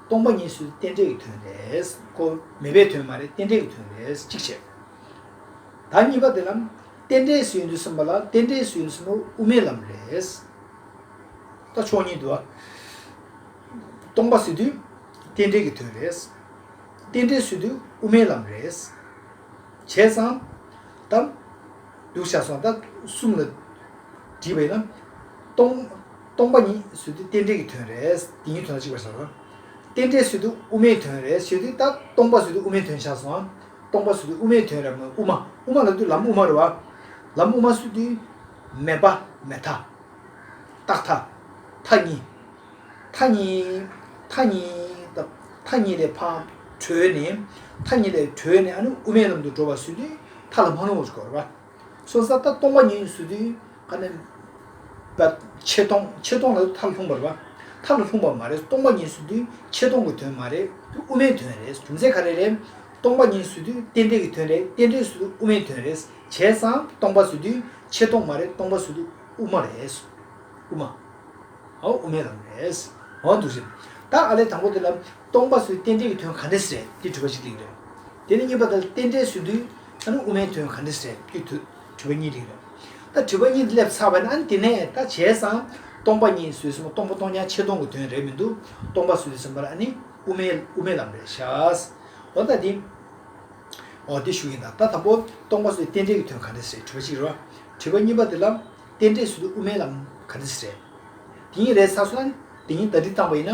སྟོང་པ་གཉིས་སུ་རྟེན་འབྲེལ་གྱི་དོན་རེད། ཀོ། མེད་པའི་དོན་མ་རེད་རྟེན་འབྲེལ་གྱི་དོན་རེད་གཅིག་བྱས། ད་གཉིས་པ་དེ་ལ། རྟེན་འབྲེལ་སུའི་འདུས་གསུམ་པ་ལ་རྟེན་འབྲེལ་སུའི་འདུས་གསུམ་པ་དབུ་མའི་ལམ་རེད། ད་ཕྱོགས་གཉིས་འདུལ་བ། སྟོང་པ་སུའི་འདུས། རྟེན་འབྲེལ་གྱི་དོན་རེད། རྟེན་འབྲེལ་སུའི་འདུས་དབུ་མའི་ལམ་རེད། བྱས་ཙང། ད། འདུག་བྱ་སོང་ད་གསུམ་ལ། དྲིས་པ་ཡིན་ན། སྟོང། སྟོང་པ་ཉིད་སུ་དེ་རྟེན་འབྲེལ་གྱི་དོན་རེད། དེ་ཉིད་དོན་ལ་གཅིག་པར་བྱ། རྟེན་འབྲེལ་སུ་དེ་དབུ་མའི་དོན་རེད་ཞེས་དུས་ལྟར་སྟོང་པ་སུ་དེ་དབུ་མའི་དོན་བྱ་སོང། སྟོང་པ་སུ་དེ་དབུ་མའི་དོན་རེད་དབུ་མ་དབུ་མ་ལ་དུས་ལམ་དབུ་མ་རེད་བ། ལམ་དབུ་མ་སུ་དེ། མེད་པ་མེད་མཐའ། རྟག་མཐའ། མཐའ་གཉིས། མཐའ་གཉིས། མཐའ་གཉིས། མཐའ་གཉིས་ལས་འཕགས། གྲོལ་ནས། མཐའ་གཉིས་ལས་གྲོལ་ནས་ཨ་ནི་དབུ་མའི་ལམ་དུ་འགྲོ་བ་སུ་དེ། མཐའ་ལ་མ་ལྷུང་བར་གྱུར་བ་རེད་བ། སོ་སོ་ད་སྟོང་པ་ཉིད་སུ་དུས་ག་ནས། ཕྱེད་སྟོང་ཕྱེད་སྟོང་ལ་མཐར་ལྷུང་བར་བ། མཐར་ལ་ལྷུང་བ་མ་རེད་སྟོང་པ་ཉིད་སུ་དུས་ཕྱེད་སྟོང་གི་དོན་མ་རེད་དུས་དབུ་མའི་དོན་རེད་རྒྱུ་མཚན་ག་རེ་རེད། སྟོང་པ་ཉིད་སུ་དུས་རྟེན་འབྲེལ་གྱི་དོན་རེད་རྟེན་འབྲེལ་སུ་དུས་དབུ་མའི་དོན་རེད་བྱས་ཙང་སྟོང་པ་སུ་དུས་ཕྱེད་སྟོང་མ་རེད་སྟོང་པ་སུ་དུས་དབུ་མ་རེད། དབུ་མ། དབུ་མའི་ལམ་རེད། འོ་འདུག་ཤི། ད་ཨ་ལས་དང་པོ་དེ་ལ། སྟོང་པ་སུའི་རྟེན་འབྲེལ་གྱི་དོན་ག་འདྲས་རེད་ཀྱི་དྲུས་པ་ཞིག་རིགས་རེད། དེ་ནས་གཉིས་པ་དང་རྟེན་འབྲེལ་སུའི་དུས་ཨ་ནུ་ཨུ་མའི་དོན་ག་འདྲས་རེད་ཀྱི་དུས་དྲུས་པ་གཉིས་རིགས་རེད། ད་དྲུས་པ་གཉིས་འདི་སླེབས་ཚར་བ་ན་ཨ་ནི་དེ་ནས་ད་བྱས་ཙང་སྟོང་པ་གཉིས་སུའི་སེམས་པ་སྟོང་པ་སྟོང་རྐྱང་ཆེ་སྟོང་གི་དོན་རེད་མི་འདུག་སྟོང་པ་སུའི་སེམས་པ་ལ་ཨ་ནི་ཨུ་མའི་ཨུ་མའི་ལམ་རེད་ཤག། འོ་ད་དེ། འོ་དེ་ཞུ་ཡིན་ད་ད་དང་པོ་སྟོང་པ་སུའི་རྟེན་འབྲེལ་གྱི་དོན་ག་འདྲས་རེད་དྲུས་པ་གཅིག་རེད་བ། དྲུས་པ་གཉིས་པ་དེ་ལ། རྟེན་འབྲེལ་སུ་དེ་དབུ་མའི་ལམ་ག་འདི་སི་རེད། དེ་གཉིས་རེད་ས་སོང། དེ་གཉིས་ད་དྲིལ་བཏང་བ་ཡིན་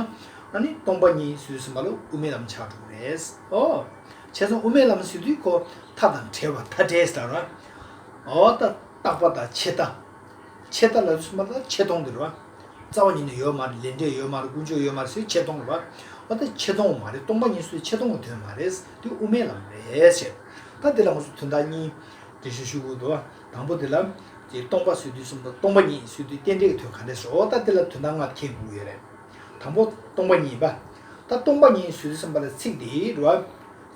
ན། ནི་སྟོང་པ་གཉིས་སུ་སིམ་པ་ལོ་དབུ་མའི་ལམ་ཆགས་འགྲོ་གི་རེད། ཨོ། བྱས་སོང་དབུ་མའི་ལམ་སི་དུས་ཁོ་ཐ་དང་བྲལ་བ་ཐ་བྲལ་སི་ར་ར། ཨོ་ད་རྟག་པ་དང་ཆད་ལྟ། ཆད་ལྟ་ལ་རུ་སིམ་པ་ལ་ཆད་སྟོང་གི་ར་ར། རྩ་བ་ཉིད་ནས་ཡོད་མ་རེད་ལས་འབྲས་ཡོད་མ་རེད་ཀུན་སྤྱོད་ཡོད་མ་རེད་སིའི་ཆད་སྟོང་གི་ར་ར། ཨོ་ད་ཆད་སྟོང་བ་མ་རེད་སྟོང་པ་གཉིས་སུ་ཆད་སྟོང་གི་དོན་མ་རེད་དེ་དབུ་མའི་ལམ་རེད། ད་དེ་ལ་ངོ་སོ་དོན་དག་གཉིས། དེ་ཤུ་ཤུ་གུ་དོ། དང་པོ་འདི་ལ། ཀྱི་སྟོང་པ་བཟོད་བསྡུས་གསུམ་དང་སྟོང་པ་ཉིད་བཟོད་བསྡུས་རྟེན་འབྲེལ་གྱི་དོན་གང་འདྲས་སོ་ད་འདི་ལ་དོན་དང་ལྔ་ཁྱད་དགུ་ཡོད་རེད། དང་པོ་སྟོང་པ་ཉིད། ད་སྟོང་པ་ཉིད་བཟོད་བསྡུས་གསུམ་པ་ལ་ཚིག་འདི་རུ།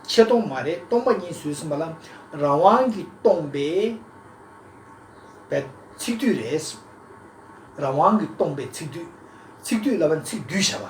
ཆེ་སྟོང་མ་རེད་སྟོང་པ་ཉིད་བཟོད་བསྡུས་གསུམ་པ་ལ་རང་དབང་གིས་སྟོང་པའི། ཚིག་བསྡུས་རེད། རང་དབང་གིས་སྟོང་པའི་ཚིག་བསྡུས། ཚིག་བསྡུས་ལ་བ་ཚིག་བསྡུས་བྱ་བ།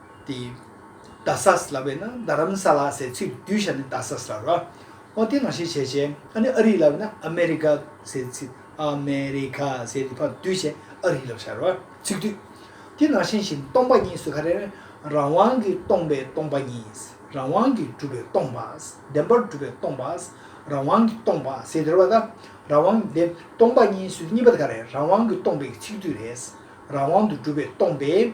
ཏེ། རྡ་ས་ལ་བས་ན་རྡ་རམ་ས་ལ་ཟེར་ཚུལ་གདུལ་བྱ་ནི་རྡ་ས་ལ་རོ། ཨོ་དེ་ནང་བཤད་བྱས་བྱས་ཨ་ནི་ཨ་རི་ལ་བས་ན་ཨ་མེ་རི་ཀ་ཟེར་ཚུལ་ཨ་མེ་རི་ཁ་ཟེར་ནི་ཕར་གདུལ་བྱས་ཨ་རི་ལ་བྱ་རོ། ཚིག་སྡུད། དེ་ནང་བཞིན་བཞིན་སྟོང་པ་ཉིད་སུ་ཁ་རེ་ནི་རང་དབང་གིས་སྟོང་པའི་སྟོང་པ་ཉིད། རང་དབང་གིས་གྲུབ་པའི་སྟོང་པ། བདེན་པར་གྲུབ་པའི་སྟོང་པ། རང་དབང་གིས་སྟོང་པ་ཟེར་དེར་བ་ད་རང་དབང་གིས་བདེན་སྟོང་པ་ཉིད་སུ་གཉིས་པ་ད་ག་རེ་རང་དབང་གིས་སྟོང་པའི་ཚིག་སྡུད་རེད། རང་དབང་དུ་གྲུབ་པའི་སྟོང་པའི།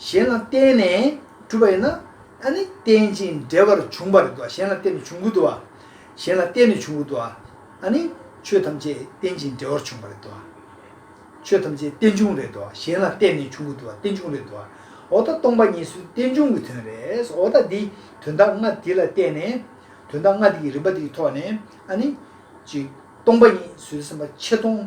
གཞན་ལ་བརྟེན་ནས་གྲུབ་པ་ཡིན་ན་ད་ནི་རྟེན་ཅིང་འབྲེལ་པར་འབྱུང་བར་འདུ་བ་གཞན་ལ་བརྟེན་ནས་བྱུང་གི་འདུ་བ། གཞན་ལ་བརྟེན་ནས་བྱུང་གི་འདུ་བ། ད་ནི་ཆོས་ཐམས་ཅད་རྟེན་ཅིང་འབྲེལ་བར་བྱུང་བ་རེད་འདུ་བ། ཆོས་ཐམས་ཅད་རྟེན་འབྱུང་རེད་འདུ་བ་གཞན་ལ་བརྟེན་ནས་བྱུང་གི་འདུ་བ་རྟེན་འབྱུང་རེད་འདུ་བ། འོ་ད་སྟོང་པ་ཉིད་སུའི་རྟེན་འབྱུང་གི་དོན་རེད་འོ་ད་འདི་དོན་དག་ལྔ་འདི་ལ་བརྟེན་ནས། དོན་དག་ལྔ་འདི་ཀྱི་རིམ་པ་འདི་ཀྱི་ཐོག་ནས་ཨ་ནི། གཅིག། སྟོང་པ་ཉིད་སུའི་སེམས་པ་ཆེ་མཐོང།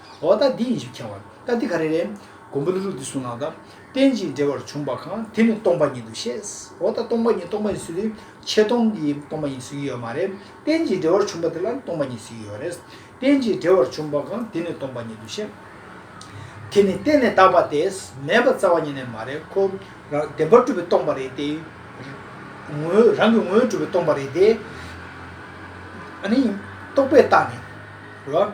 འོ་ད་འདི་ཡིན་ཞེས་ཁྱེར་བ། ད་འདི་ག་རེ་རེད། མགོན་པོ་ལུ་རུ་འདི་གསུངས་ལགས་ད། རྟེན་ཅིང་འབྲེལ་བར་བྱུང་བ་གང་དེ་ནི་སྟོང་པ་ཉིད་དུ་ཤེས། འོ་ད་སྟོང་པ་ཉིད་སྟོང་པ་ཉིད་ཟོས་དུས་ཆད་སྟོང་གི་སྟོང་པ་ཉིད་ཟོས་ཀྱི་ཡོད་མ་རེད། རྟེན་ཅིང་འབྲེལ་བར་བྱུང་བ་དེ་ལ་སྟོང་པ་ཉིད་ཟོས་ཀྱི་ཡོད་རེད། རྟེན་ཅིང་འབྲེལ་བར་བྱུང་བ་གང་དེ་ནི་སྟོང་པ་ཉིད་དུ་ཤེས། དེ་ནི་གཏན་ནས་དག་པ་སྟེ་མེད་པར་རྩ་བ་ཉིད་ནས་མ་རེད་ཁོ། རང་བདེན་པར་གྲུབ་པའི་སྟོང་པ་རེད་དེ། ངོའི་རང་གི་ངོའི་གྲུབ་པའི་སྟོང་པ་རེད་དེ། རྟོག་པས་བརྟགས་ནས།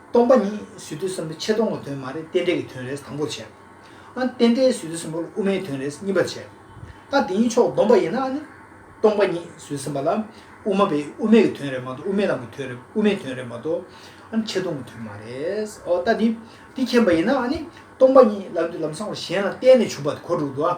སྟོང་པ་ཉིད་ཟུས་བརྟོད་གསུམ་པོ་ཆད་སྟོང་གི་དོན་མ་རེད་རྟེན་འབྲེལ་གྱི་དོན་རེད་དང་པོར་བྱས། ཨ་རྟེན་འབྲེལ་ཟུས་བརྟོད་གསུམ་པོ་ལ་དབུ་མའི་དོན་རེད་གཉིས་པར་བྱས། ཨ་དེ་གཉིས་ཕྱོགས་བསྡོམས་པ་ཡིན་ན་ཨ་ནི། སྟོང་པ་ཉིད་ཟུས་གསུམ་པ་ལ་དབུ་མ་པས་དབུ་མེད་ཀྱི་དོན་རེད་མ་གཏོགས་དབུ་མའི་ལམ་གྱི་དོན་རེད་དབུ་མའི་དོན་རེད་མ་གཏོགས། ཨ་ནི་ཆད་སྟོང་གི་དོན་མ་རེད། ཨོ་ད་དེ་དེ་མཁྱེན་པ་ཡིན་ན་ཨ་ནི། སྟོང་པ་ཉིད་ལམ་དུས་ལམ་སྲང་བར་གཞན་ལ་བརྟེན་ནས་བྱུང་བ་དེ་གོ་དྲུག་ཏུ་ཨ།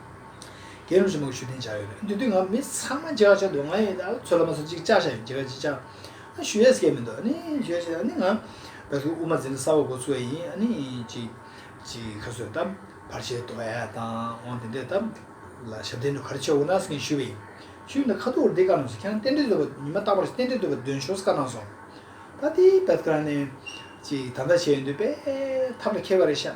དགེ་སློང་ཆེན་མོ་ཞུ་བདེན་བྱ་ཡོད་པས་འདི་དུས་ང་མི་ཚང་མ་ཇག་བྱ་འདུག་ང་ཡི་དྭགས་ཚོད་ལ་མ་སོང་ཅིག་ཅག་བྱ་ཡོད་ཇི་ག་ཇི་བྱ། ཞུ་ཡས་སྐད་མི་འདུག་ནི་ཞུ་ཡས་ཤེས་ནི་ང། བད་ཐུག་དབུ་མ་འཛིན་ལ་ས་འོག་སྒོ་ཚུགས་ཡས་ཡིན་ནི་ཅིག། ཅིག་ཁ་སོས་དམ་བར་བྱས་འདུག་ཡས་དང་འོང་དེ་འདྲས་དམ། ལ་ཞབས་བརྟན་དུ་ག་རེ་བྱས་འོང་ནགས་སྐྱེན་ཞུས་པ་ཡིན། ཞུས་ནི་ཁ་ཐུག་འོར་འདི་ག་ནང་སོང་ཁྱེད་རང་རྟེན་འབྲེལ་འདོད་པ་ཉི་མ་རྟག་པར་རྟེན་འབྲེལ་འདོད་པ་འདོན་ཞོགས་ག་ནང་སོང། ད་དེའི་བད་ཐུག་རང་ནི། ཅིག་ད་ལྟ་བྱས་ཡོད་འདོད་པས་ཐབས་ལ་མཁས་པ་རེད་ཤག།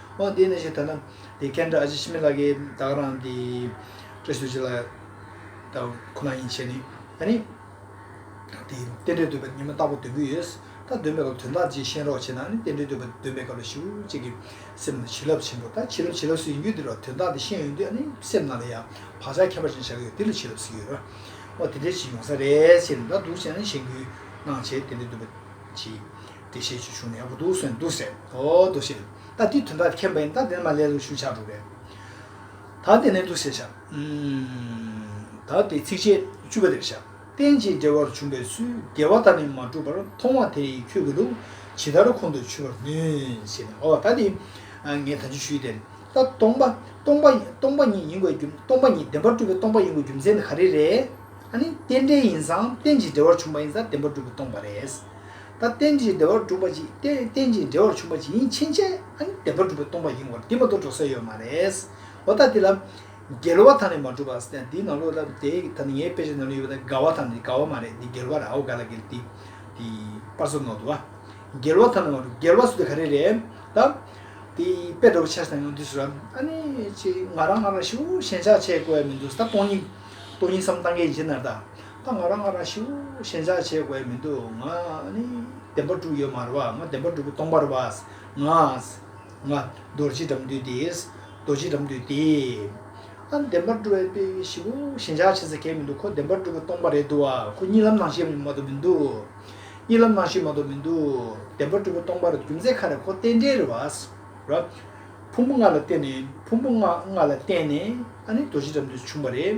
ཨོ་དེ་ནས་ཞེས་ད་ན། དེ་ཁན་བཀྲ་ཤིས་ཤི་མི་ལ་ཀའི་བདག་རང་དེ། བཀྲ་ཤིས་ཤི་ལ་ཀ་ཁོ་ན་ཡིན་ཞེས་ནི། ད་ནི། དེ་རྟེན་འབྲེལ་འདོད་པ་ཉི་མ་རྟག་པ་འདོན་གྱི་ཡོད། ད་འདོན་པའི་སྐབས་དོན་དག་ཅིག་ཤེས་རོགས་བྱས་ན་ནི་རྟེན་འབྲེལ་འདོད་པ་འདོན་པའི་སྐབས་ལ་ཞུ་གཅིག་གི། སེམས་ལ་བྱིན་རླབས་ཆེན་པོ་ད་བྱིན་རླབས་བྱིན་རླབས་སུ་ཡིན་རྒྱུ་དེ་རོ་དོན་དག་དེ་ཤེས་ཡོང་དུས་ཨ་ནི་སེམས་ནང་ལ་ཡང་བག་ཆགས་ཁྱད་པར་ཅན་ཞག་གི་ཡོད་དེ་ལ་བྱིན་རླབས་ཟེར་གྱི་ཡོད་ར། ཨོ་དེ་འདྲའི་བྱིན་ཡོང་ས་རེད་ཅེས་ནི་ད་འདུག་བྱས་ནི་བྱིན་གྱིས་བརླང་བྱས་རྟེན་འབྲེལ་འདོད་པ་གྱིས། བདེ་གཤེགས་ཀྱི་གཞུང་ནས་འོ་དོ་སོན་འདུག་ཟེར། འོ་དོ་ཞེས་ད་འདི་དོན་དག་མཁྱེན་པ་ཡིན་ད་འདིར་མ་ལས་ལུགས་ཞུ་བྱར་འགྲོ་གས། ད་བདེ་ནས་འདུག་ཟེར་བྱ། ད་དེ་ཚིགས་བཅད་བཅུ་པ་འདིར་བྱ། རྟེན་ཅིང་འབྲེལ་བར་བྱུང་བའི་ཚུལ་དགེ་བ་ད་ནི་མ་གྲུབ་པར་མཐོང་བ་དེ་ཡིས་ཁྱོད་ཀྱི་ལུགས་ཇི་ལྟར་ཁོང་དུ་ཆུད་པར་ནུས་ཞེས་ན་འོ་ད་འདི་ངས་ད་ཅི་ཞུས་ཏེ། ད་སྟོང་པ་སྟོང་པ་སྟོང་པ་ཉིད་ཡིན་དགོས་རྒྱུ་སྟོང་པ་ཉིད་བདེན་པར་གྲུབ་པའི་སྟོང་པ་ཡིན་དགོས་རྒྱུ་མཚན་ནི་ག་རེ་རེད། ཨ་ནི་རྟེན་འབྲེལ་ཡིན་ཙང་རྟེན་ཅིང་འབྲེལ་བར་བྱུང་བ་ཡིན་ཙང་བདེན་པར་གྲུབ་པའི་སྟོང་པ་རེད། ད་རྟེན་ཅིང་བདེ་བར་གྲུབ་པ་ཅིག་སྟེ་རྟེན་ཅིང་འབྲེལ་བར་བྱུང་བ་ཅིག་ཡིན་ཕྱིན་ཆད་ཨཱ་ནི་བདེ་བར་གྲུབ་པའི་སྟོང་པ་ཡིན་བར་འདི་མ་གཏོགས་འགྲོ་ས་ཡོད་མ་རེད། འོ་ད་འདི་ལ། འགལ་བ་དང་ནི་མ་གྲུབ་བ། འདི་ནང་ལོགས་ལ་དེ་ད་ནི་ངའི་དཔེ་ཆ་ནང་ལོགས་ཡོད་པ་དང་འགལ་བ་དང་ནི་འགལ་བ་མ་རེད་འདི་འགལ་བ་རེད་ཨའོ་ག་ལ་འགལ་འདི། དེ། པར་བཟོ་ནོར་འདུག་ཨ། འགལ་བ་དང་ནི་མ་གྲུབ་འགལ་བ་ཟེར་དུས་ག་རེ་རེད། ད། དེ། དཔེ་འདྲ་བོ་ཆ་ཚང་ཡོང་དུས་སུ། ཨཱ་ནི། ཅེ། ང་རང་ང་རང་ཤི་བོ་ཞེན་ཆགས་ཆེ་གོ་ཡ་མི་འདུག་ད་སྟོང་ཉིད། སྟོང་ཉིད་སམ་སྟང་ཀའི་ཡིན་ཕྱིར་ན་ད། ད་ང་རང་ང་རང་ཞུ་ཞེན་ཆགས་བྱེད་དགོས་མི་འདུག་ང་ནི་བདེན་པ་གྲུབ་ཡོད་མར་བ་ང་བདེན་པ་གྲུབ་པའི་སྟོང་པར་བས་ང། ང། རྡོ་རྗེ་དགྲམ་དུས་དེས་རྡོ་རྗེ་དགྲམ་དུས་དེས། ཨ་བདེན་པར་གྲུབ་བའི་དཔེ་ཞུ་ཞེན་ཆགས་བྱེད་ས་ཁེལ་མི་འདུག་ཁོ་བདེན་པར་གྲུབ་པའི་སྟོང་པ་རེད་འདུག་ཨ་ཁོ་གཉིད་ལམ་ནང་ཤེས་མ་གཏོགས་མི་འདུག་གཉིད་ལམ་ནང་ཤེས་མ་གཏོགས་མི་འདུག་བདེན་པར་གྲུབ་པའི་སྟོང་པ་རེད་རྒྱུ་མཚན་ཁ་རེ་ཁོ་རྟེན་འབྲེལ་རེད་བས་ར། ཕུང་པོ་ལྔ་ལ་བརྟེན་ནས་ཕུང་པོ་ལྔ་ལ་བརྟེན་ནས་ཨ་ནི་རྡོ་རྗེ་དགྲམ་དུས་སུ་བྱུང་བ་རེད།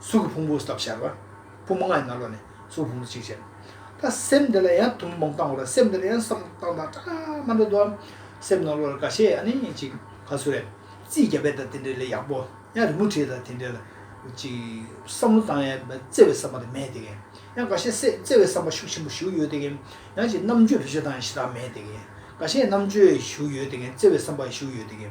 གཟུགས་ཀྱི་ཕུང་པོ་སྟོབས་ཆེ་བ། པུ་མོ་ལྔ་ཡི་ནང་ལོགས་ནས་གཟུགས་ཀྱི་ཕུང་པོ་གཅིག་བྱས། ད་སེམས་འདི་ལ་ཡང་ཐུན་མོང་བཏང་བ་ལ་སེམས་འདི་ལ་ཡང་གསང་སྔགས་བཏང་དང་ཀྲང་མ་འདྲ་དུ་འམ། སེམས་ནང་ལོགས་ལ་ག་ཤེད་ཨ་ནི་ཅིག་ག་ཚོད་རེད། རྩིས་རྒྱ་བལ་དང་དེ་འདྲའི་ལས་ཡག་པོ། ཡང་རི་མོ་བྲིས་དང་དེ་འདྲའི་ལ། ཅིག། བསམ་བློ་བཏང་ཡང་བརྩེ་བའི་བསམ་པ་དེ་མེད་དེ། ཡང་ག་ཤེད་སེམས་བརྩེ་བའི་བསམ་པ་ཤུགས་ཆེན་པོ་ཞུགས་ཡོད་དེ། ཡང་ཅིག་རྣམ་དཔྱོད་བེད་སྤྱོད་བཏང་ཡང་ཞེ་སྡང་མེད་དེ། ག་ཤེད་རྣམ་དཔྱོད་ཞུགས་ཡོད་དེ་བརྩེ་བའི་བསམ་པ་ཞུགས་ཡོད་དེ།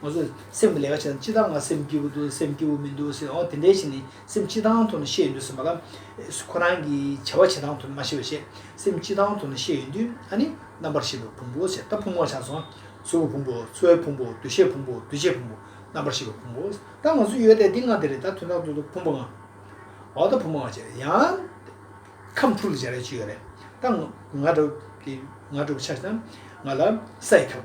ང་ཚོས་སེམས་ཀྱི་ལས་ཀ་བྱེད་དང་ཅི་ལྟར་ང་སེམས་སྐྱིད་པོ་འདུག་སེམས་སྐྱིད་པོ་མི་འདུག་ཟེར་ཨོ་དེ་འདྲའི་ཞིག་ནི་སེམས་སྐྱིད་ཐང་ཐུང་ན་ཤེས་ཡོང་དུས་སེམས་པ་ལ། ཁོ་རང་གི་བྱ་བ་བྱེད་ཐང་ཐུང་ན་མ་ཤེས་པ་ཞིག་སེམས་སྐྱིད་ཐང་ཐུང་ན་ཤེས་ཡོང་དུས་ཨ་ནི་རྣམ་པར་ཤེས་པའི་ཕུང་པོ་ཟེར་ད་ཕུང་པོ་ཆགས་སོང། གཟུགས་ཀྱི་ཕུང་པོ་འཚོ་བའི་ཕུང་པོ་འདུ་ཤེས་ཕུང་པོ་འདུ་བྱེད་ཕུང་པོ་རྣམ་པར་ཤེས་པའི་ཕུང་པོ་ད་ང་ཚོ་ཡོད་དེ་འདི་ང་དེ་རེད་ད་དོན་དག་ཏུ་ཏུ་ཕུང་པོ་ང། ཨོ་ད་ཕུང་པོ་ང་ཅི་རེད་ཡང། ཁམས་འཁྲུག་ལ་སྦྱར་ཡ་ཅི་ཡོད་རེད་ད། ང། ང་འདྲ་བོ་ཆགས་སོང་ང་ལ་ས་ཡི་ཁྱབ།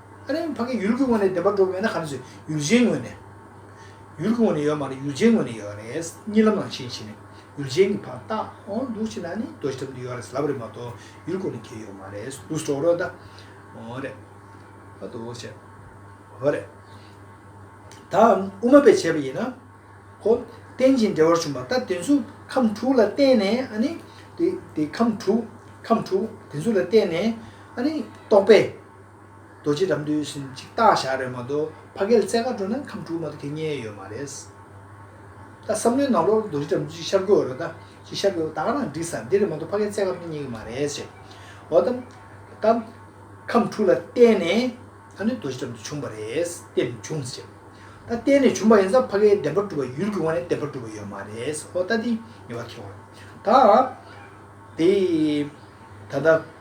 ཨ་རིའི་ཕ་གི་ཡུལ་གྱི་ངོས་ནས་བདེན་པ་སྒྲོག་གི་ཡོད་ན་ག་རེ་བྱེད་ཡུལ་གཞན་ངོས་ནས། ཡུལ་གྱི་ངོས་ནས་ཡོད་མ་རེད་ཡུལ་གཞན་ངོས་ནས་ཡོད་རེད། གཉིད་ལམ་ལམ་ཤེས་ཤེས་ནས་ཡུལ་གཞན་གྱི་ཕ་ལྟ་འོ་འདུག་ཤེས་ན་ནི་རྡོ་ཞིག་གྲམ་དུ་ཡོད་རེད་ལབ་རེད་མ་གཏོགས་ཡུལ་གོ་ནས་ཁྱེད་ཡོད་མ་རེད་འདུག་སྒྲོག་རོགས་གདའ། འོ་རེད། ཨ་འདུག་བྱེད། འོ་རེད། ད་དབུ་མ་པས་བྱས་པ་ཡིན་ན། ཧོ། རྟེན་ཅིང་འབྲེལ་བར་བྱུང་བ་ད་དེ་ཚོ་ཁམས་དྲུག་ལ་བརྟེན་ནས་ཨ་ནི། དེ་དེ་ཁམས་དྲུག། ཁམས་དྲུག་དེ་ཚོ་ལ་བརྟེན་ནས་ཨ་ནི། རྟོག་པས། རྡོ་རྗེ་རབ་འདོད་བཞིན་གཅིག་བཏགས་བཞག་རེད་མ་གཏོགས་ཕ་སྐད་རྩེ་གར་འགྲོ་ན་ཁམས་དྲུག་མ་གཏོགས་ཁྱེད་རྙེད་ཡོད་མ་རེད། ད་བསམ་བློའི་ནང་ལོག་རྡོ་རྗེ་རབ་འདོད་ཅིག་ཤར་དགོས་རེད་ད། ཅིག་ཤར་དགོས་ད་ག་རང་འགྲིག་ས་འདི་རེད་མ་གཏོགས་ཕ་སྐད་རྩེ་གར་ཁྱེད་རྙེད་ཀྱི་མ་རེད་ཟེར། འོ་ད། ད། ཁམས་དྲུག་ལ་བརྟེན་ནས་ད་ནི་རྡོ་རྗེ་རབ་འདོད་བྱུང་བ་རེད། བརྟེན་ནས་བྱུང་ཟེར། ད་བརྟེན་ནས་བྱུང་བ་ཡིན་ས་ཕ་སྐད་བདེན་པར་སྒྲུབ་པ་ཡུལ་གྱི་དབང་ནས་བདེན་པར་སྒྲུབ་པ་ཡོད་མ་རེད། འོ་ད་དེ་ངེས་པར་ཁེལ་བ་རེད། ད། དེ། ད་ལྟ།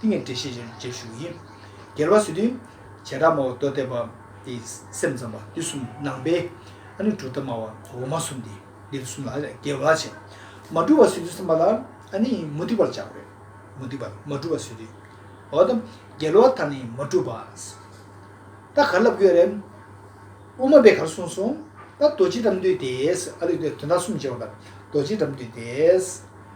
ཏིང་ངེ་འབྲས་ཤེས་བྱའི་རྗེས་ཞུགས་ཡིན། རྒྱལ་བ་སྲིད་དོན། བྱེ་བྲག་སྨྲ་བ་རྡོ་གཏད་པ། ཏེ། སེམས་ཙམ་པ་འདི་གསུམ་ནང་པའི། ཨ་ནི་གྲུབ་མཐའ་སྨྲ་བ་འོག་མ་གསུམ་སྟེ། འདི་རུ་གསུམ་ལ་རྒྱལ་བ་བྱེད། མ་གྲུབ་པ་སྲིད་དོན་སེམས་པ་ལ། ཨ་ནི་མུ་སྟེགས་པར་བྱ་བ་རེད། མུ་སྟེགས་པ་མ་གྲུབ་པ་སྲིད་དོན། འོ་ད། རྒྱལ་བ་ད་ནི་མ་གྲུབ་པ། ད་གར་ལབ་ཡོད་རེད། དབུ་མ་པས་གར་གསུངས་སོང། ད་རྡོ་རྗེ་དགྲམ་འདུས་ཏེ། ཨ་རིག་པས་དོན་དག་གསུམ་བྱེད་པ་ལ་རྡོ་རྗེ་དགྲམ་འདུས་ཏེ།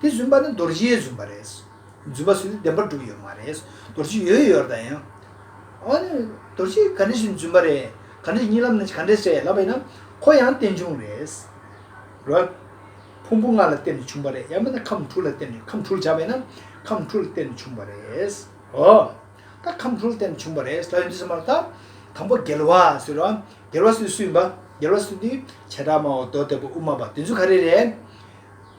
དེ་བཟུན་པ་ནི་རྡོ་རྗེའི་བཟུན་པ་རེད། བརྫུན་པ་སུས་བདེན་པར་སྒྲུབ་ཡོད་མ་རེད། རྡོ་རྗེ་ཡོད་ཡོད་རྡ་ཡིན། འོ་ན་རྡོ་རྗེ་ག་འདྲས་ཞིག་བརྫུན་པ་རེད། ག་འདྲས་རྙིང་ལམ་ནས་ག་འདྲས་རེད་ལབ་པ་ཡིན་ན། ཁོ་ཡང་རྟེན་འབྱུང་རེད། རོལ། ཕུང་པོ་ལྔ་ལ་བརྟེན་ནས་བྱུང་བ་རེད་ཡང་མིན་ན་ཁམས་དྲུག་ལ་བརྟེན་ནས་ཁམས་དྲུག་ལ་བྱ་བ་ཡིན་ན། ཁམས་དྲུག་ལ་བརྟེན་ནས་བྱུང་བ་རེད། འོ། ད་ཁམས་དྲུག་ལ་བརྟེན་ནས་བྱུང་བ་རེད་ལབ་ཡོང་རྒྱུ་ཟེར་མ་རེད་ད། དང་པོ་རྒྱལ་བ་སུ་རེད། རྒྱལ་བ་སུས་སུ་ཡིན་པ། རྒྱལ་བ་སུ་དེ། བྱེ་བྲག་སྨྲ་བ་རྡོ་གཏེར་བུ་དབུ་མ་པ་དེ་ཚོ་ག་རེ་རེད།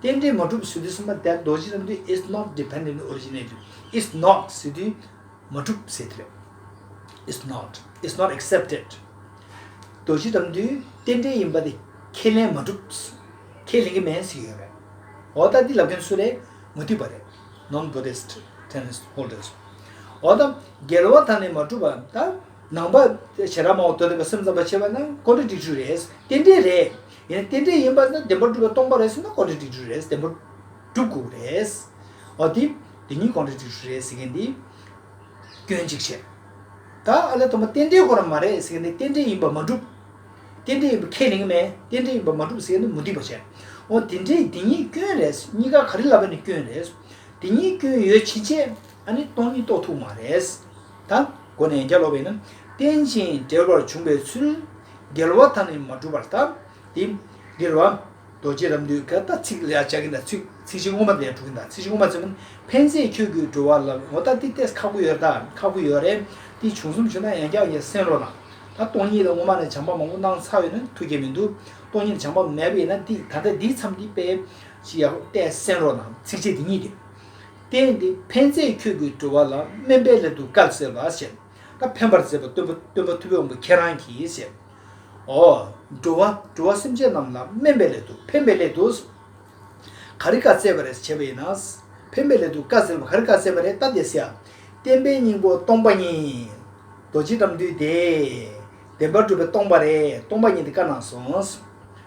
རྟེན་འབྲེལ་མ་གྲུབ་པའི་ཟེ་དུས་གསུམ་པ་དེར་རྡོ་རྗེ་རྣམ་ཐོས is not dependent originated is not ཟེ་དུས་མ་གྲུབ་པའི་ཟེ་དེ་རེད is not is not accepted རྡོ་རྗེ་རྣམ་ཐོས་རྟེན་འབྲེལ་ཡིན་པ་དེ་ཁས་ལེན་མ་གྲུབ་ཁས་ལེན་གྱི་མེད་ཟེར་གྱི་ཡོད་རེད་འོ་ད་འདི་ལབ་མཁན་སུ་རེད་མ་མཐུན་པ་རེད non Buddhist tenets holders འོ་ད་འགལ་བ་དང་ནི་མ་གྲུབ་པ་དང་ནང་པ་བྱེ་བྲག་མང་བོ་དོར་འདུག་པ་སེམས་ཙམ་པ་བྱས་པ་ན contradictory རེད་རྟེན་འབྲེལ་རེད། ཡང་རྟེན་འབྲེལ་ཡིན་པ་ན་བདེན་པར་སྒྲུབ་པ་སྟོང་པ་རེད་ཟེར་ན་གོ་འབྲེལ་སྒྲིག་འགྲོས་རེད་བདེན་པར་སྒྲུབ་དགོས་པ་རེད། འོ་དེ་དེ་གཉིས་གོ་འབྲེལ་སྒྲིག་འགྲོས་རེད་ཟེར་མཁན་དེ་སྐྱོན་གཅིག་བྱས། ད་ཨ་ལས་དང་པོ་རྟེན་འབྲེལ་གོ་ར་མ་རེད་ཟེར་མཁན་དེ་རྟེན་འབྲེལ་ཡིན་པར་མ་སྒྲུབ། རྟེན་འབྲེལ་ཡིན་པར་ཁས་ལེན་གི་མེད་རྟེན་འབྲེལ་ཡིན་པར་མ་སྒྲུབ་ཟེར་མཁན་དེ་མུ་སྟེགས་པ་བྱས། འོ་དེ་འདྲའི་དེ་གཉིས་སྐྱོན་རེད་གཉིས་ཀ་ག་རེ་ལབ་པ་ནི་སྐྱོན་རེད། དེ་གཉིས་སྐྱོན་ཡོད་ཕྱིན་ཆད་ཨ་ནི་སྟོང་ཉིད་རྟོགས་ཐུབ་མ་རེད། དང། སྒོ་ནས་བརྒྱ་ལོག་པས་ནི། རྟེན་ཅིང་འབྲེལ་བར་འབྱུང་བའི་ཚུལ། འགལ་བ་དང་ནི་མ་གྲུབ་པར་བརྟག། འདི་འདིར་བ། རྡོ་རྗེ་རབ་འདོད་ཀྱི་ད་ཚིག་ལས་བྱ་གིན་དང་ཚིག་ཚིག་ཅིག་ངོ་མ་ལས་གྲུབ་གིན་དང་ཚིག་ཅིག་ངོ་མ་ཚིག་མིན་ཕན་ཚེ་ཁྱོད་ཀྱིས་འགྲོ་བ་ལ་ངོ་བལྟ་སྟེ་ཏེ་ཁག་པོ་ཡོད་རེད་ད་ཁག་པོ་ཡོད་རེད་ཏེ་བྱུང་གསུམ་བྱུང་ན་ཡང་བསྐྱར་ཡང་སེམས་རོགས་ལ། ད་སྟོང་ཉིད་ལ་ངོ་མ་ལ་བྱང་པ་མང་པོ་སྣང་ཚར་ཡོད་ན་ཐུགས་དགྱེས་མི་འདུག་སྟོང་ཉིད་ལ་བྱང་པ་མེད་པས་ན་འདི་ད་ལྟ་འདིའི་མཚམས་འདི་པས། ཅི་ཡག་པོ་བལྟས་སེམས་རོགས་ལ་ཚིག་བཅད་འདི་གཉིས་ཏེ། བསྟན་ཏེ་ཕན་མཛད་ཁྱོད་ཀྱིས་འགྲོ་བ་ལ་སྨན་པའི་ལས་དུ་བཀག་ཟེར་བ་ཞེས་བཀའ་ཕན་པར་མཛད་པ་སྟོན་པ་སྟོན་པ་ཐུབ་པའི་དབང་པོ་ཁྱེད་རང་གིས་ཞེས། ཨོ། འགྲོ་བ་འགྲོ་བ་སེམས་ཅན་རྣམས་ལ་སྨན་པའི་ལས་དུ་ཕན་པའི་ལས་དུ། ག་རེ་བཀའ་སྩལ་པ་རེད་བྱས་པ་ཡིན་ན། ཕན་པའི་ལས་དུ་བཀག་ཟེར་བ་ག་རེ་བཀའ་སྩལ་པ་རེད་ལྟ་དེ་སེ། བསྟན་པའི་སྙིང་པོ་སྟོང་པ་ཉིད། རྡོ་རྗེ་དགྲམ་འདུལ་དེས། བདེན་པར་གྲུབ་པའི་སྟོང་པ་རེད་སྟོང་པ་ཉིད་དེ་བཀའ་གནང་སོང།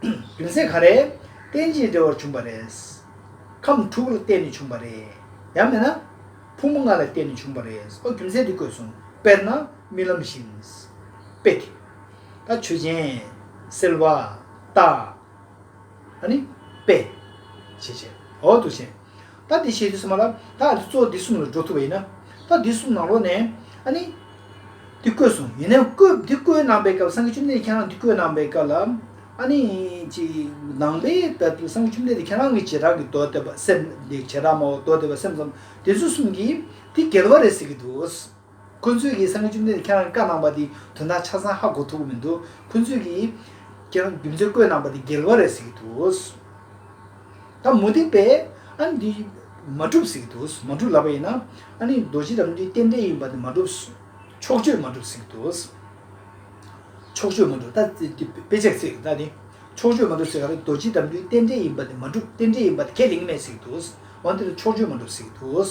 རྒྱུ་མཚན་ག་རེད། རྟེན་ཅིང་འབྲེལ་བར་བྱུང་བ་རེད། ཁམས་དྲུག་ལ་བརྟེན་ནས་བྱུང་བ་རེད། ཡང་མིན་ན། ཕུང་པོ་ལྔ་ལ་བརྟེན་ནས་བྱུང་བ་རེད། ཨོ་རྒྱུ་མཚན་འདི་བཀོད་སོང། དཔེར་ན། རྨི་ལམ་བཞིན། དཔེ་དེ། ད་ཆོས་ཅན། སེལ་བ། རྟགས། ཨ་ནི། དཔེ། བྱེད་བྱེད། འོག་ཏུ་བྱེད། ད་དེ་བྱས་ཏེ་སོང་བ་ལ། ད་ཨ་ཏི་གཙོ་འདི་གསུམ་ལ་འགྲོ་ཐུབ་པ་ཡིན་ན། ད་འདི་གསུམ་ནང་ལོགས་ནས། ཨཱ་ནི། འདི་བརྐོས་སོང། ཡིན་ནའི་བརྐོས། འདི་བརྐོས་གནང་པའི་སྐབས་སངས་རྒྱས་བཅོམ་ལྡན་འདས་ཁྱེད་རང་འདི་བརྐོས་གནང་པའི་སྐབས་ལ། ཨཱ་ནི། ཅི། ནང་པའི་སྐབས་སུ་སངས་རྒྱས་བཅོམ་ལྡན་འདས་ཁྱེད་རང་གི་བྱེ་བྲག་གི་མདོ་སྡེ་པ་སེམས། བྱེ་བྲག་སྨྲ་བ་མདོ་སྡེ་པ་སེམས་ཙམ་དེ་ཚོ་གསུམ་གྱིས། འདི་འགལ་བ་རེད་ཟེར་གྱི་འདུག། ཁོ་ཚོས་ཀྱིས་ས་ངོས་བཅུ་གཉིས་ལ་ཁྱེད་རང་གིས་བཀའ་གནང་པ་དེ་དོན་དག་ཆ་ཚང་ཧ་གོ་ཐུབ་ཀྱི་མི་འདུག་ཁོ་ཚོས་ཀྱིས། ཁྱེད་རང་རྒྱུ་མཚན་བཀོད་གནང་པ་དེ་འགལ་བ་རེད་ཟེར་གྱི་འདུག་ད་མུ་སྟེགས་པས་ཨ་ནི་འདི་མ་གྲུབ་ཟེར་གྱི་འདུག་མ་གྲུབ་ལབ་པ་ཡིན་ན་ཨ་ནི་རྡོ་རྗེ་རང་བྱོན་རྟེན་འབྲེལ་ཡིན་པ་འདི་མ་གྲུབ། ཕྱོགས་ཆོས་མ་གྲུབ་ཟེར་གྱི་འདུག་ཕྱོགས་ཆོས་མ་གྲུབ་ད་དཔེ་ཆ་ཚིག་ད་ནི་ཕྱོགས་ཆོས་མ་གྲུབ་ཟེར་ག་རེད་རྡོ་རྗེ་རང་བྱོན་རྟེན་འབྲེལ་ཡིན་པ་འདི་མ་གྲུབ་རྟེན་འབྲེལ་ཡིན་པ་འདི་ཁས་ལེན་གྱི་མེད་ཟེར་གྱི་འདུག་འོན་ཏེ་ཕྱོགས་ཆོས་མ་གྲུབ་ཟེར་གྱི་འདུག།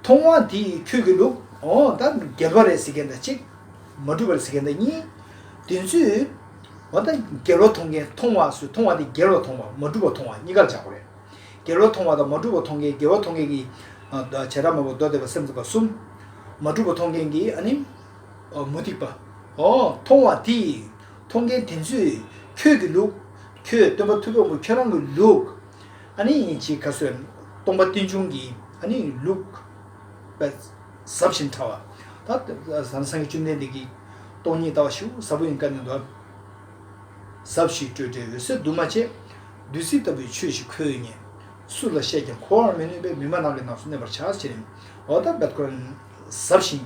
མཐོང་བ་འདི་ཡིས་ཁྱོད་ཀྱི་ལུགས། ད་འགལ་བ་རེད་ཟེར་མཁན་དང་གཅིག། མ་གྲུབ་པར་ཟེར་མཁན་དང་གཉིས། བདེན་ཚུལ། ད་འགལ་བ་མཐོང་མཁན་མཐོང་བ་སུ་མཐོང་བ་དེ་འགལ་བ་མཐོང་བ་མ་གྲུབ་པ་མཐོང་བ་གཉིས་ཀར་འཇགས་པ་རེད། འགལ་བ་མཐོང་བ་དང་མ་གྲུབ་པ་མཐོང་མཁན་འགལ་བ་མཐོང་མཁན་གྱི། བྱེ་བྲག་མ་བུ་མདོ་སྡེ་པ་སེམས་ཙམ་པ་གསུམ། མ་གྲུབ་པ་མཐོང་མཁན་གྱི་ཨ་ནི། མུ་སྟེགས་པ། མཐོང་བ་འདི་ཡིས་མཐོང་མཁན་བདེན་ཚུལ། ཁྱོད་ཀྱི་ལུགས། ཁྱོད་སྟོན་པ་ཐུབ་བམ་པོ་ཁྱོད་རང་གི་ལུགས། ཨ་ནི་ཅི་ཁ་གསོས། སྟོང་པ་རྟེན་འབྱུང་གི་ཨ་ནི་ལུགས། ཟབ་བཞིན་ཕྲ་བ། ད་ལྟ་བཟང་སངས་རྒྱས་བཅོམ་ལྡན་འདས་ཀྱིས། སྟོང་ཉིད་ལྟ་བ་ཞི་བ་ཟབ་པོ་ཡིན་བཀའ་ནི་འདོན། ཟབ་བཞི་སྤྲོས་བྲལ་འོད་གསལ་འདུས་མ་བྱས། བདུད་རྩི་ལྟ་བུའི་ཆོས་ཞིག་ཁོལ་ཡུལ་ཉིད། སུ་ལ་བཤད་ཀྱང་གོ་བར་མི་ནུས་པས་མི་སྨྲ་ནགས་ཀྱི་ནགས་སུ་གནས་པར་བྱ། འོ་ད་བདག་གོ། ཟབ་བཞིན་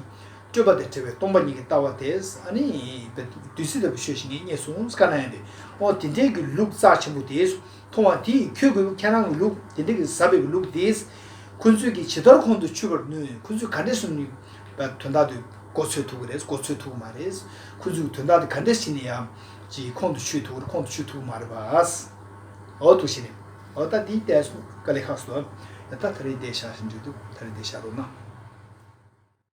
སྤྲོས་པ་དེ་བྲལ་བའི་སྟོང་པ་ཉིད་ཀྱི་ལྟ་བ་དེས་ཨ་ནི། བདུད་རྩི་ལྟ་བུའི་ཆོས་ཞིག་ངས་རྙེད་སོང་བཀའ་ན་ཡོད་པས། ཨོ་དེ་འདྲའི་གུ་ལུགས་རྩ་ཆེན་པོ་དེས། མཐོང་བ་དེས་ཁྱོད་ཀྱི་ལུགས་ཁྱེད་རང་གི་ལུགས་དེ་འདྲ་གིས་ཟབ་པའི་ལུགས་དེས་ཁོ་ཚོས་ཀྱིས་ཇི་ལྟར་ཁོང་དུ་ཆུད་པར་ནུས་ཁོ་ཚོས་ག་འདྲས་སུ་ནུས་པ་དོན་དག་དེ་གོ་ཚོད་ཐུག་གི་རེད་གོ་ཚོད་ཐུག་གི་མ་རེད། ཁོ་ཚོས་དོན་དག་དེ་ག་འདྲས་བྱས་ནས་ཡང་ཅིག་ཁོང་དུ་ཆུད་ཐུག་གི་རེད་ཁོང་དུ་ཆུད་ཐུག་གི་མ་རེད་བ། འོ་ཐུག་བྱས་ནས་འོ་ད་དེའི་ལྟས་སོ་ཀ་ལས་ཁག་སོ། ད་ད་རེ་འདས་ཤག་བཞིན་འགྲོ་འདུག་ད་རེ་འདས་ཤག་རོ་ན།